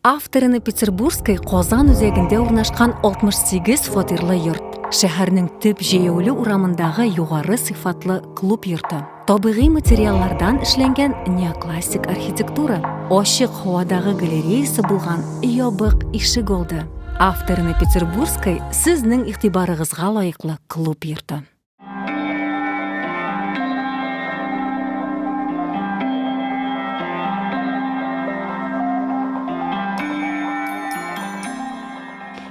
Авторыны Петербургской Казан үзәгендә урнашкан 68 фатирлы йорт. Шәһәрнең төп җәяүле урамындагы югары сыйфатлы клуб йорты. Табигый материаллардан эшләнгән неоклассик архитектура. Ачык һавадагы галереясы булган ябык ишек алды. Авторыны Петербургской сезнең игътибарыгызга лаеклы клуб йорты.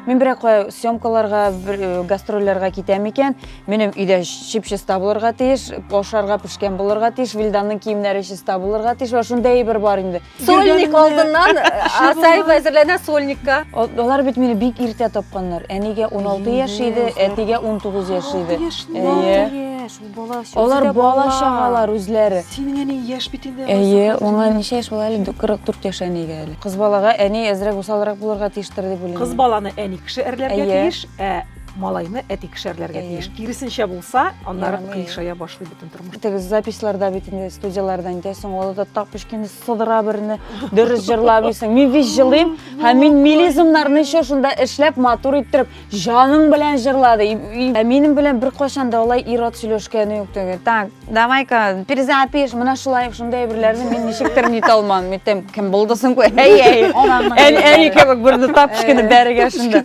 Мин берәк кая съемкаларга, э, гастрольләргә китәм икән, минем өйдә чип-чиста булырга тиеш, ашарга пешкән булырга тиеш, Вилданның киемнәре чиста булырга тиеш, ва шунда әйбер бар инде. Сольник алдыннан Арсаев әзерләнә сольникка. Алар бит мине бик иртә тапканнар. Әнигә 16 яшь иде, әтигә 19 яшь иде. Алар бала чагалар үзләре. Синең әни яшь бит инде. Әйе, аңа ничә яшь була әле? 44 яшь әнигә әле. Кыз балага әни әзрәк усалрак булырга тиештер дип уйлыйм. Кыз баланы әни кеше әрләргә тиеш, ә малайны әти кеше әрләргә тиеш. Киресенчә булса, аннары кыйшая башлый бөтен Тормыштагы записьларда бит инде студияләрдә инде соң ул да тап пешкәнне сыдыра берне дөрес җырламыйсың. Мин бит җырлыйм һәм мин мелизмнарны еще шунда эшләп матур иттереп җаның белән җырлады. Ә минем белән беркайчан да алай ир-ат сөйләшкәне юк түгел. Так, давай-ка перезапиш, менә шулай шундый әйберләрне мин ничектер нит алмам. Митем, кем булды соң бу? Әй-әй. Әни кебек берне тап пешкәнне бәрегә шунда.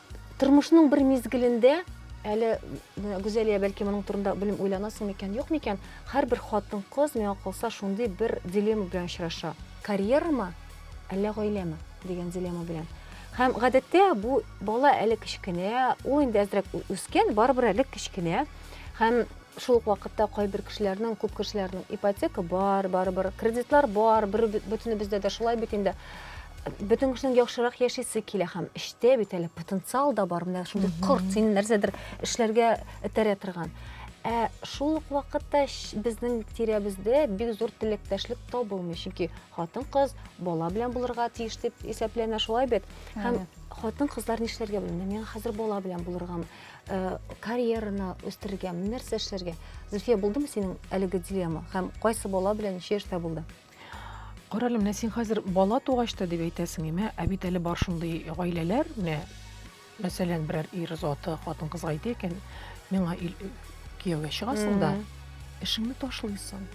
Тормышның бер мизгелендә әле Гүзәлия бәлки моның турында белем уйланасың микән, юк микән? Һәрбер хатын-кыз миңа калса шундый бер дилемма белән очраша. Карьерамы, әллә гаиләме дигән дилемма белән. Һәм гадәттә бу бала әле кечкенә, ул инде әзрәк үскән, барыбер әле кечкенә. Һәм Шул ук вакытта кайбер кешеләрнең, күп кешеләрнең ипотека бар, барыбер кредитлар бар, бер бөтенебездә дә шулай бит инде бөтен кешенең яхшырак яшисе килә һәм эштә бит әле потенциал да бар менә шундый корт сине нәрсәдер эшләргә этәрә торган ә шул ук вакытта безнең тирәбездә бик зур теләктәшлек табылмый чөнки хатын кыз бала белән булырга тиеш дип исәпләнә шулай бит һәм хатын кызлар нишләргә белми мин хәзер бала белән булыргамы Э, карьераны үстерергә нәрсә эшләргә зөлфия булдымы синең әлеге дилемма һәм кайсы бала белән ничә яшьтә булды карале менә син хәзер бала тугач та дип әйтәсең име ә бит әле бар шундый гаиләләр менә мәсәлән берәр ир заты хатын кызга әйтә икән миңа кияүгә чыгасың да эшеңне ташлыйсың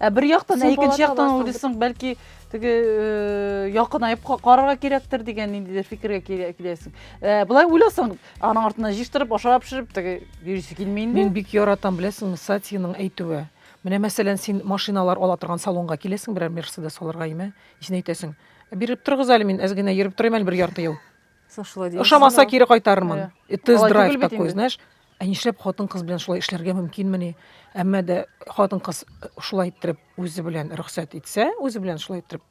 Ә бер яктан, ә икенче яктан уйлыйсың, бәлки теге э, якынаеп карарга кирәктер дигән ниндидер фикергә киләсең. Э, Былай уйласаң, аның артына җыштырып, ашап пешереп теге йөрисе килми инде. Мин бик яратам, беләсеңме, Сатиның әйтүе. Менә мәсәлән, син машиналар ала торган салонга киләсең, берәр Мерседес алырга име? Син әйтәсең, биреп торыгыз әле, мин әз генә йөреп торыйм әле бер ярты ел. Сошла дигән. Ошамаса кире кайтарырмын. Э, И тест Алай драйв түгел бит такой, инде. знаешь. Ә нишләп хатын-кыз белән шулай эшләргә мөмкинмени? Әмма дә хатын-кыз шулай иттереп үзе белән рөхсәт итсә, үзе белән шулай иттереп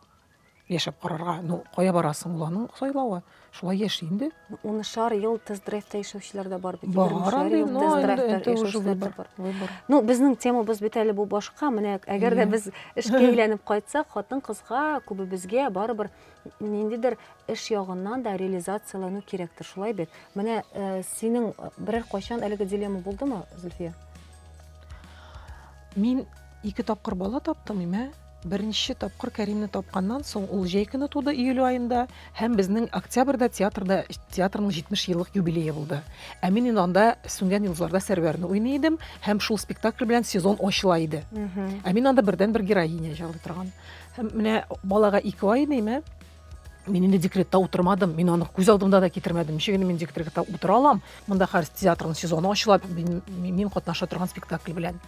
яшәп карарга. Ну, кая барасың? Ул аның сайлавы. Шулай яши инде. Унышар ел тест-драйвта яшәүчеләр дә бар бит. Бар Егермешәр андый, ел но инде тест-драйвта это уже яшәүчеләр дә выбор. бар. Выбор. Ну, безнең темабыз бит әле бу башка. Менә әгәр дә Иә. без эшкә әйләнеп кайтсак, хатын-кызга күбебезгә барыбер ниндидер эш ягыннан да реализацияләнү кирәктер, шулай бит? Менә э, синең э, берәр кайчан әлеге дилемма булдымы, Зөлфия? Мин ике тапкыр бала таптым, имә. Беренче тапкыр Кәримне тапканнан соң ул җәй көне туды июль айында һәм безнең октябрьдә театрда театрның 70 еллык юбилее булды. Ә мин инде анда сүнгән йолдызларда Сәрвәрне уйный идем һәм шул спектакль белән сезон ачыла иде. Ә мин анда бердән бер героиня җырлый торган. Һәм менә балага ике ай димә, мин инде декретта утырмадым, мин аны күз алдымда да китермәдем. Ничек инде мин декретта утыра алам? Монда хәзер театрның сезоны ачыла, мин, мин катнаша торган спектакль белән.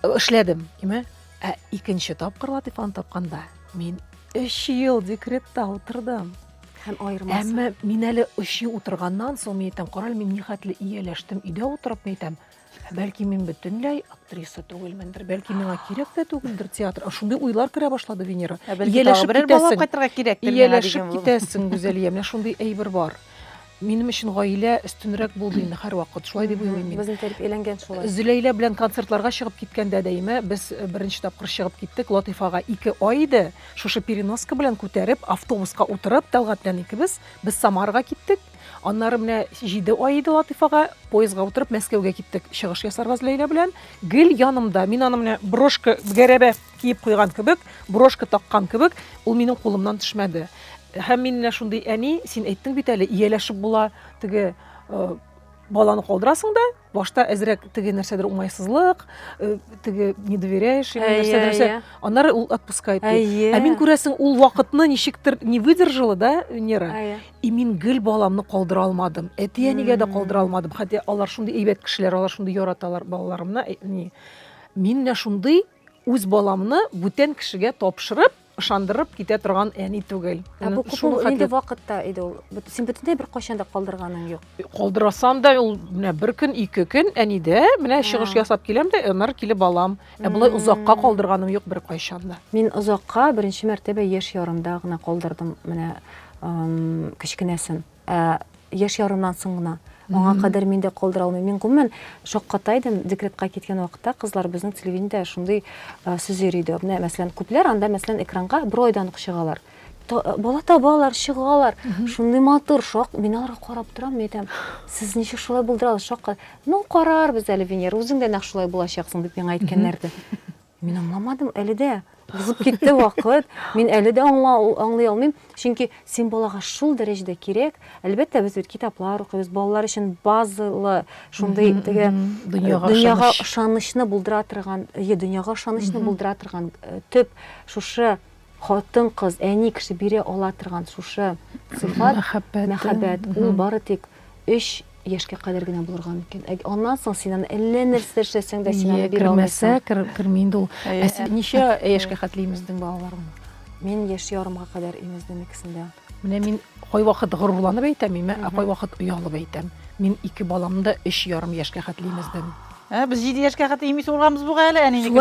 Эшләдем, димә. Ә икенче тапкыр Латифаны тапканда мин 3 ел декретта утырдым. Һәм аермасы. Әмма мин әле 3 ел утырганнан соң мин әйтәм, карале, мин нихәтле ияләштем, өйдә утырып мин әйтәм, Бәлки мин бөтенләй актриса түгелмендер, бәлки миңа кирәк тә түгелдер театр. Шундый уйлар керә башлады Венера. Ә бәлки Ияләшеп тагы берәр бала китәсең. кайтырга кирәктер миңа Ияләшеп дигән булып. китәсең, Гүзәлия. Менә шундый әйбер бар. Минем өчен гаилә өстенрәк булды инде һәрвакыт. Шулай дип уйлыйм мин. Безне тәрбияләнгән шулай. Зөләйлә белән концертларга чыгып киткәндә дәимә без э, беренче тапкыр чыгып киттек. Латыйфага ике ай иде. Шушы переноска белән күтәреп, автобуска утырып, Тәлгать белән икебез без Самарга киттек. Аннары менә җиде ай иде Латыйфага, поездга утырып Мәскәүгә киттек. Чыгыш ясарбыз Ләйлә белән. Гел янымда, мин аны менә брошка гәрәбә киеп куйган кебек, брошка таккан кебек, ул минем кулымнан төшмәде. Һәм мин менә шундый әни, син әйттең бит әле, ияләшеп була, теге э, баланы калдырасың да, башта әзрәк теге нәрсәдер уңайсызлык э, теге не доверяешь ему нәрсә нәрсә аннары ул отпускает ә мин күрәсең ул вакытны ничектер не выдержала да венера и мин гел баламны калдыра алмадым әти әнигә дә калдыра алмадым хотя алар шундый әйбәт кешеләр алар шундый яраталар балаларымны э, мин менә шундый Үз баламны бүтән кешегә тапшырып, ышандырып китә торган әни түгел. Ә бу күп нинди вакытта иде ул? Син бөтенләй бер кайчан да калдырганың юк. Калдырасам да ул менә бер көн, ике көн әнидә менә чыгыш ясап киләм дә, аннары килеп алам. Ә болай озакка калдырганым юк бер кайчан да. Мин озакка беренче мәртәбә яшь ярымда гына калдырдым менә кечкенәсен. Ә, яшь ярымнан соң гына. Аңа кадәр мин дә калдыра алмыйм. Мин гомумән шакката идем, декретка киткән вакытта кызлар безнең телевидениедә шундый э, сүз йөри иде. Менә мәсәлән, күпләр анда мәсәлән экранга бер айдан ук чыгалар. Та- э, Бала табалар, чыгалар. Шундый матур, шак. Мин аларга карап торам, мин әйтәм, сез ничек шулай булдыра аласыз? Шакка. Ну, карарбыз әле, Венера, үзең дә нәкъ шулай булачаксың, дип миңа әйткәннәр иде. Мин аңламадым, әле дә узып китте вакыт. Мин әле дә аңлый алмыйм. Чөнки син балага шул дәрәҗәдә кирәк. Әлбәттә, без бит китаплар укыйбыз, балалар өчен базалы шундый теге дөньяга ышанычны булдыра торган, дөньяга ышанычны булдыра торган төп шушы Хатын-кыз, әни кеше бирә ала торган шушы сыйфат, мәхәббәт, мәхәббәт, ул бары тик өч яшькә кадәр генә булырга мөмкин. Ә аннан соң син аны әллә нәрсә эшләсәң дә, син аны бирә алмыйсың. Кермәсә, керми инде ул. Ә син ничә яшькә хәтле имездең балаларыңны? Мин яшь ярымга кадәр имездем икесен дә. Менә мин кайвакыт горурланып әйтәм, мин кайвакыт оялып әйтәм. Мин ике баламны өч ярым яшькә хәтле имездем. Ә без 7 яшькә хәтле имиз урганбыз буга әле, әни нике.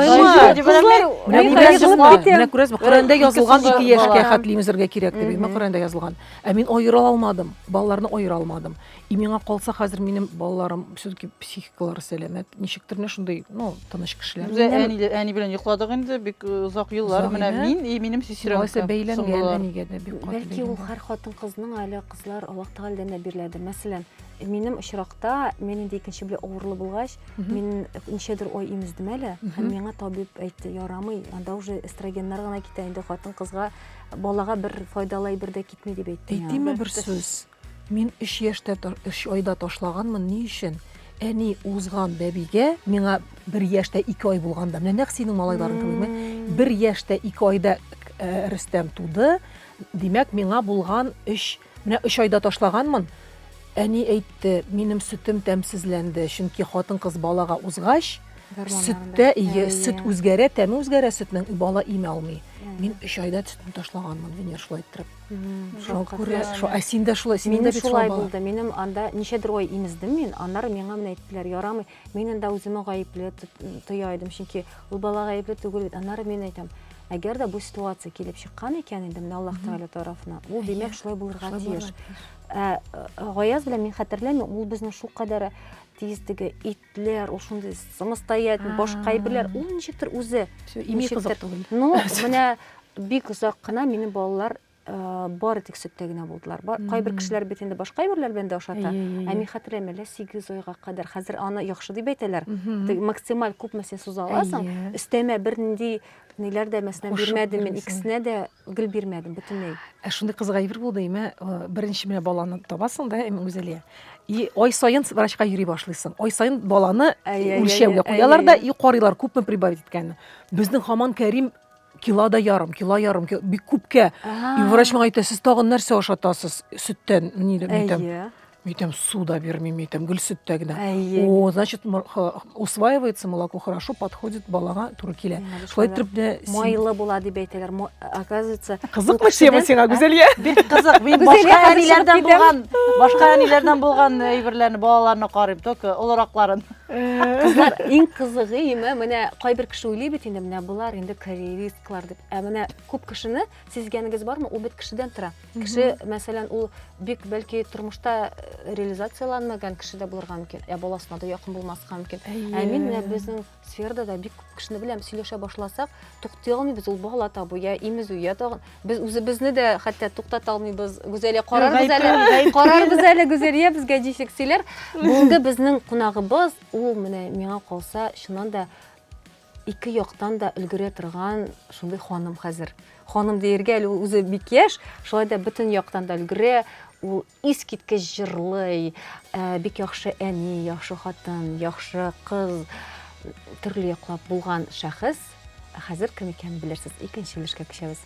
Менә күрәсезме, Коръәндә язылган 2 яшькә хәтле имезергә кирәк дип, Коръәндә язылган. Ә мин аера алмадым, балаларны аера алмадым. И миңа калса хәзер минем балаларым все-таки психикалары сәламәт. Ничектер менә шундый, ну, тыныч кешеләр. Үзе әни, әни белән йокладык инде бик э, озак еллар. Менә мин и минем сестрам. Алайса бәйләнгән әнигә дә бик каты. Бәлки ул һәр хатын кызның әле кызлар Аллаһ Тәгаләдән дә биреләде. Мәсәлән, минем очракта мин инде икенче белән авырлы булгач, мин ничәдер ой имездем әле. Һәм миңа табиб әйтте, ярамый, анда уже эстрогеннар гына китә инде хатын кызга балага бер файдалы әйбер дә китми дип әйтте. Әйтимме бер сүз? Мин өч яшьтә, өч айда ташлаганмын, ни өчен? Әни узган бәбигә, миңа бер яшьтә ике ай булганда, менә нәкъ синең малайларың кебегме? Бер яшьтә ике айда э, Рөстәм туды, димәк, миңа булган өч, менә өч айда ташлаганмын, әни әйтте, минем сөтем тәмсезләнде, чөнки хатын-кыз балага узгач, сөттә ие, сөт үзгәрә, тәме үзгәрә сөтнең, бала имә алмый. Мин өч айда сөтне ташлаганмын, Венер шулай иттереп. Ә син дә шулай, син дә шулай булды. Минем анда ничәдер ай имездем мин, аннары миңа менә әйттеләр, ярамый. Мин анда үземә гаепле тоя идем, чөнки ул бала гаепле түгел бит. Аннары мин әйтәм, әгәр дә бу ситуация килеп чыккан икән инде менә Аллаһ Тәгалә тарафына, ул димәк шулай булырга тиеш. Ә Гаяз белән мин хәтерләмим, ул безнең шул кадәр тиздеге ит Ләр, ул шундый самостоят, башка әйберләр, ул ничектер үзе. Ими кызык түгел. Ну, менә бик озак кына минем балалар Э, бары тик сөттә генә булдылар кайбер кешеләр бит инде башка әйберләр белән дә ашата ә мин хәтерләмим әллә сигез айга кадәр хәзер аны яхшы дип әйтәләр максималь күпме син суза аласың өстәмә бернинди ниләр дә мәсәлән бирмәдем мин икесенә дә Гел бирмәдем бөтенләй. Ә шундый кызык әйбер булды, имә беренче менә баланы табасың да, имә Гүзәлия. И ай саен врачка йөри башлыйсың. Ай саен баланы үлчәүгә куялар да и карыйлар күпме прибавить иткәнен. Безнең хаман Кәрим кило да ярым, кило ярым, бик күпкә. И врач миңа әйтә, сез тагын нәрсә ашатасыз? Сөттән, нидән? Мин әйтәм, су да бирмим, әйтәм, гөл сөттә генә. О, значит, усваивается молоко хорошо, подходит балага туры килә. Шулай итеп дә майлы була дип әйтәләр. Оказывается, кызыкмы тема сиңа, Гүзәлия? Бик кызык. Мин башка әниләрдән булган, башка әниләрдән булган әйберләрне, балаларны карыйм, только олыракларын. Кызлар, иң кызыгы име, менә кайбер кеше уйлый бит инде, менә булар инде карьеристлар дип. Ә менә күп кешене Сизгәнегез бармы, ул бит кешедән тора. Кеше, мәсәлән, ул бик бәлки тормышта э, реализацияланмаган кеше дә булырга мөмкин, ә баласына да якын булмаска мөмкин. Ә мин менә безнең сферада да бик күп кешене беләм, сөйләшә башласак, туктый алмыйбыз, ул бала табу я имезү, я тагын без үзебезне дә хәтта туктата алмыйбыз. Гүзәлия карарбыз әле, карарбыз әле Гүзәлия безгә ничек сөйләр. Бүгенге безнең кунагыбыз, ул менә миңа калса, чыннан да Ике яктан да өлгерә торган шундый ханым хәзер. Ханым диергә әле ул үзе бик яшь, шулай да бөтен яктан да өлгерә. Ул искиткеч җырлый, ә, бик яхшы әни, яхшы хатын, яхшы кыз, төрле яклап булган шәхес. Ә Хәзер кем икәнен белерсез. Икенче өлешкә күчәбез.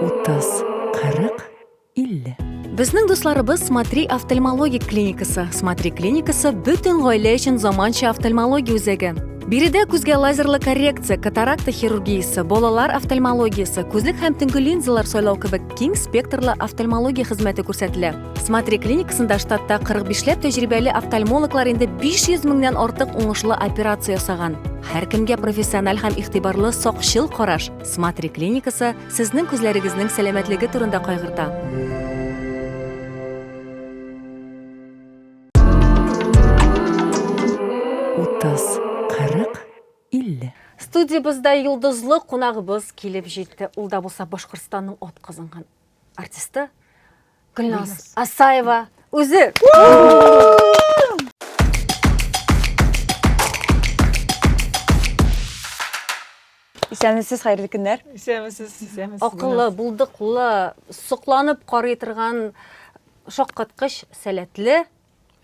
Утыз, кырык, 50. Безнең дусларыбыз Смотри офтальмологик клиникасы. Смотри клиникасы бөтен гаилә өчен заманча офтальмология үзәге. Биредә күзгә лазерлы коррекция, катаракта хирургиясе, балалар офтальмологиясе, күзлек һәм төнге линзалар сайлау кебек киң спектрлы офтальмология хезмәте күрсәтелә. Смотри клиникасында штатта 45 ләп тәҗрибәле офтальмологлар инде 500 меңнән артык уңышлы операция ясаган. Һәркемгә профессиональ һәм игътибарлы сакчыл караш. Смотри клиникасы Сезнең күзләрегезнең сәламәтлеге турында кайгырта. Утыз, кырык, илле. Студиябездә йолдызлы кунагыбыз килеп җитте. Ул да булса Башкортстанның атказанган артисты Гөлназ Асаева үзе. Исәнмесез, хәерле көннәр. Исәнмесез. Акыллы, булдыклы, сокланып карый торган шаккаткыч сәләтле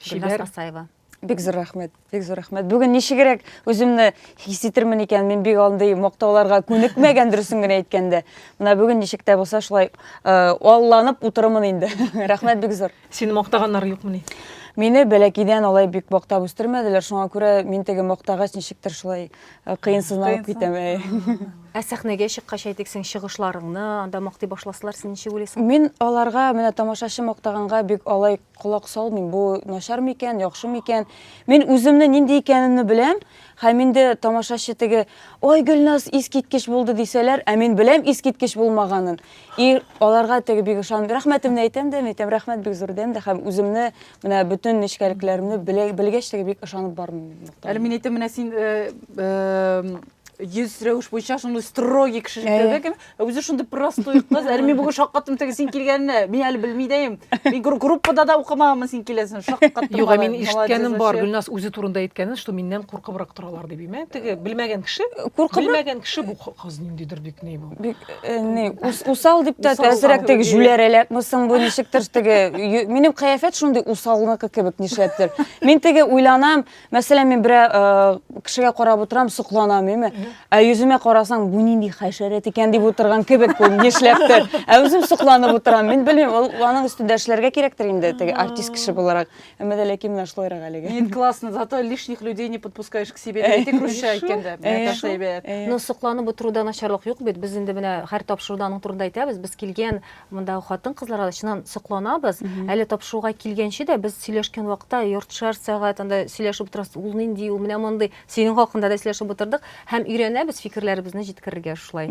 Гөлназ Асаева. Бик зур рәхмәт, бик зур рәхмәт. Бүген ничегрәк үземне хис итермен икән, мин бик андый мактауларга күнекмәгән дөресен генә әйткәндә. Менә бүген ничек тә булса шулай э, алланып утырымын инде. Рәхмәт бик зур. Сине мактаганнар юкмыни? Мине бәләкидән алай бик мактап үстермәделәр, шуңа күрә мин теге мактагач ничектер шулай э, кыенсызланып китәм. Ә сәхнәгә чыккач әйтик, син чыгышларыңны анда мактый башласалар, син ничек уйлыйсың? Мин аларга менә тамашачы мактаганга бик алай Колак салмыйм, бу начар микән, яхшы микән. Мин үземне нинди икәнемне беләм, һәм инде тамашачы теге, ой, Гөлназ искиткеч булды дисәләр, ә мин беләм искиткеч булмаганын. И аларга теге бик ышанып, рәхмәтемне әйтәм дә, әйтәм, рәхмәт бик зур дәм дә, һәм үземне менә бөтен нечкәлекләремне белгәч теге бик ышанып бармыйм. Әле мин әйтәм, менә син йөз рәвеш буенча шундый строгий кеше икәнлеген, Ә үзе шундый простой кыз. Әле мин бүген шаккаттым теге син килгәненә. Мин әле белми дә идем. Мин гру- группада да укымаганмын син киләсен. Шаккаттым. Юк, ә мин Молодец ишеткәнем бар, вообще. Гөлназ үзе турында әйткәнен, что миннән куркыбрак торалар дип. Мә, теге белмәгән кеше, Куркып белмәгән кеше бу х- кыз ниндидер бик ни бу. бик э, не ус- усал дип тә Усал, әзрәк усал. теге җүләрәләк мусың бу ничектер теге ю- минем кыяфәт шундый усалныкы кебек нишләптер. Мин теге уйланам, Мәсәлән, мин берә кешегә карап утырам, сокланам, әйме? Ә йөземә карасаң, бу нинди хәшәрәт икән дип утырган кебек бу, нишләптер. Ә үзем сокланып утырам. Мин белмим, ул аның өстендә эшләргә кирәктер инде, теге артист кеше буларак. Әмма дә ләкин менә шулайрак әлеге. Нет, классно. Зато лишних людей не подпускаешь к себе. Әйтик, русча әйткәндә. Наташа әйбәт. Ну, сокланып утыруда начарлык юк бит. Без инде менә һәр тапшыруда аның турында әйтәбез. Без килгән Мондагы хатын-кызларга да чыннан сокланабыз. Әле тапшыруга килгәнче дә без сөйләшкән вакытта яртышар сәгать анда сөйләшеп утырабыз. Ул нинди, ул менә мондый. Синең хакында да сөйләшеп утырдык һәм өйрәнәбез фикерләребезне җиткерергә шулай.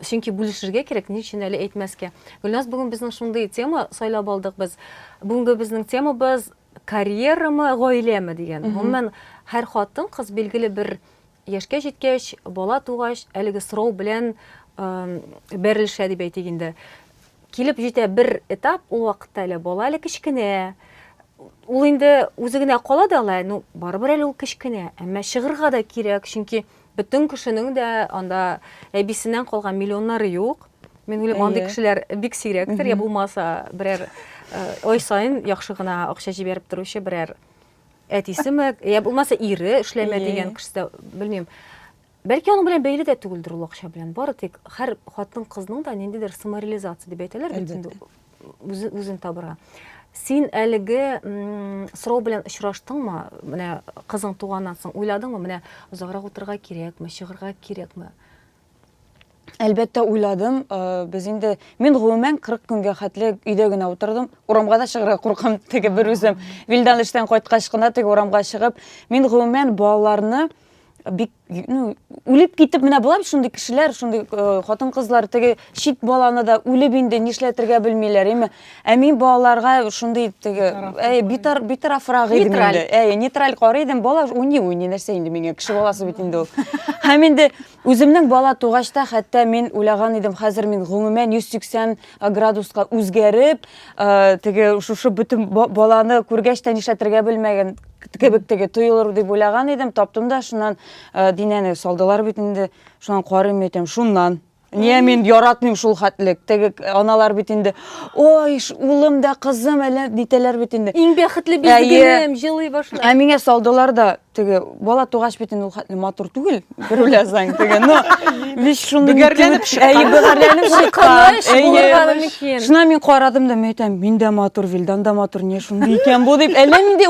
Чөнки бүлешергә кирәк, ни өчен әле әйтмәскә. Гөлназ, бүген безнең шундый тема сайлап алдык без. Бүгенге безнең темабыз карьерамы, гаиләме дигән. Гомумән, һәр хатын-кыз билгеле бер яшькә җиткәч, бала тугач, әлеге срок белән бәрелешә дип әйтик инде. Килеп җитә бер этап, ул вакытта әле бала әле кечкенә. Ул инде үзе генә кала да ала, ну, барыбер әле ул кечкенә. Әмма чыгырга да кирәк, чөнки бөтен кешенең дә анда әбисеннән калган миллионнары юк. Мин уйлыйм, андый кешеләр бик сирәктер, я булмаса берәр ай сайын яхшы гына акча җибәреп торучы берәр Әтисеме, я булмаса ире эшләмә дигән кешесе, белмим. Бәлки аның белән бәйле дә түгелдер ул акча белән. Бары тик һәр хатын-кызның да ниндидер самореализация дип әйтәләр бит инде үзен табырга. Син әлеге сорау белән очраштыңмы? Менә кызың туганнан соң уйладыңмы? Менә озаграк утырырга кирәкме, чыгырга кирәкме? Әлбәттә, уйладым. Э, без инде мин гомумән 40 көнгә хәтле өйдә генә утырдым. Урамга да чыгарга куркам теге бер үзем. Вилдан эштән кайткач кына теге урамга чыгып, мин гомумән балаларны бик ну үлеп китеп менә була бит шундый кешеләр шундый э, хатын кызлар теге чит баланы да үлеп инде нишләтергә белмиләр әйме ә мин балаларга шундый теге әй битар битарафрак идем инде әй нейтраль карый идем бала уйный уйный нәрсә инде миңа кеше баласы бит инде ул һәм инде Үземнең бала тугач та хәтта мин уйлаган идем, хәзер мин гомумән 180 градуска үзгәреп, теге шушы бөтен баланы күргәч тә нишләтергә белмәгән кебек теге тоелыр дип уйлаган идем, таптым да шуннан Динәне салдылар бит инде, шуннан карыйм әйтәм, шуннан. Ния мин яратмыйм шул хәтлек. Теге аналар бит инде, ой, улым да, кызым әллә нитәләр бит инде. Иң бәхетле бит бүгенем, җылый башлый. Ә миңа салдылар да, теге бала тугач бит инде ул хәтле матур түгел бер уйласаң теге но весь шуны бөгәрләнеп чыккан шуна мин карадым да мен әйтәм мин дә матур вилдан да матур не шундый икән бу дип әллә нинди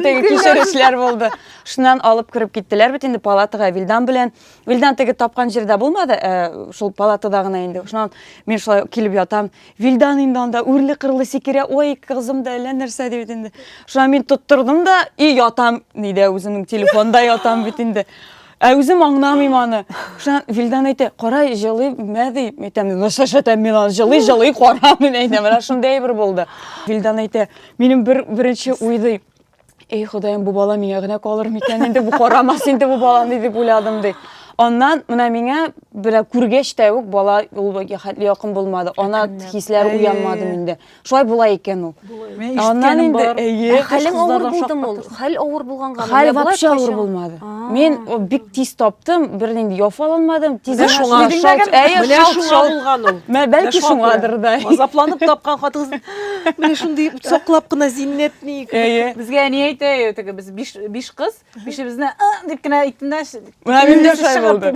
теге кичерешләр булды шуннан алып кереп киттеләр бит инде палатага вилдан белән вилдан теге тапкан җирдә булмады э, шул палатада гына инде шуннан мин шулай килеп ятам Вилдан инде анда үрле-кырлы сикерә, ой, кызым да әллә нәрсә дип инде. Шуңа мин тоттырдым да и ятам, нидә үземнең телефонда ятам бит инде. Ә үзем аңламыйм аны. Шуңа Вилдан әйтә, кара, җылый, мә ди. Әйтәм, ну шәшәтәм мин аны, җылый, җылый, кара, мин әйтәм, менә шундый әйбер булды. Вилдан әйтә, минем бер беренче уй ди, Эй, Ходаем, бу бала миңа генә калыр микән инде, бу карамас инде бу баланы дип уйладым ди. Аннан менә миңа белә күргәч тә үк бала ул хәтле якын булмады. Ана хисләр уянмады миндә. Шулай була икән ул. Аннан инде әйе. Хәлең авыр булдымы ул? Хәл авыр булганга. Хәл вообще авыр булмады. Мин бик тиз таптым, бернинди яфаланмадым, тиз шуңа шулган ул. Бәлки шуңадыр да. Азапланып тапкан хатыгыз Менә шундый саклап кына зиннәтник. Әйе. Безгә әни әйтә, теге без биш, биш кыз, бишебезне «А!» дип кенә әйттем дә. Менә мин дә шулай булды.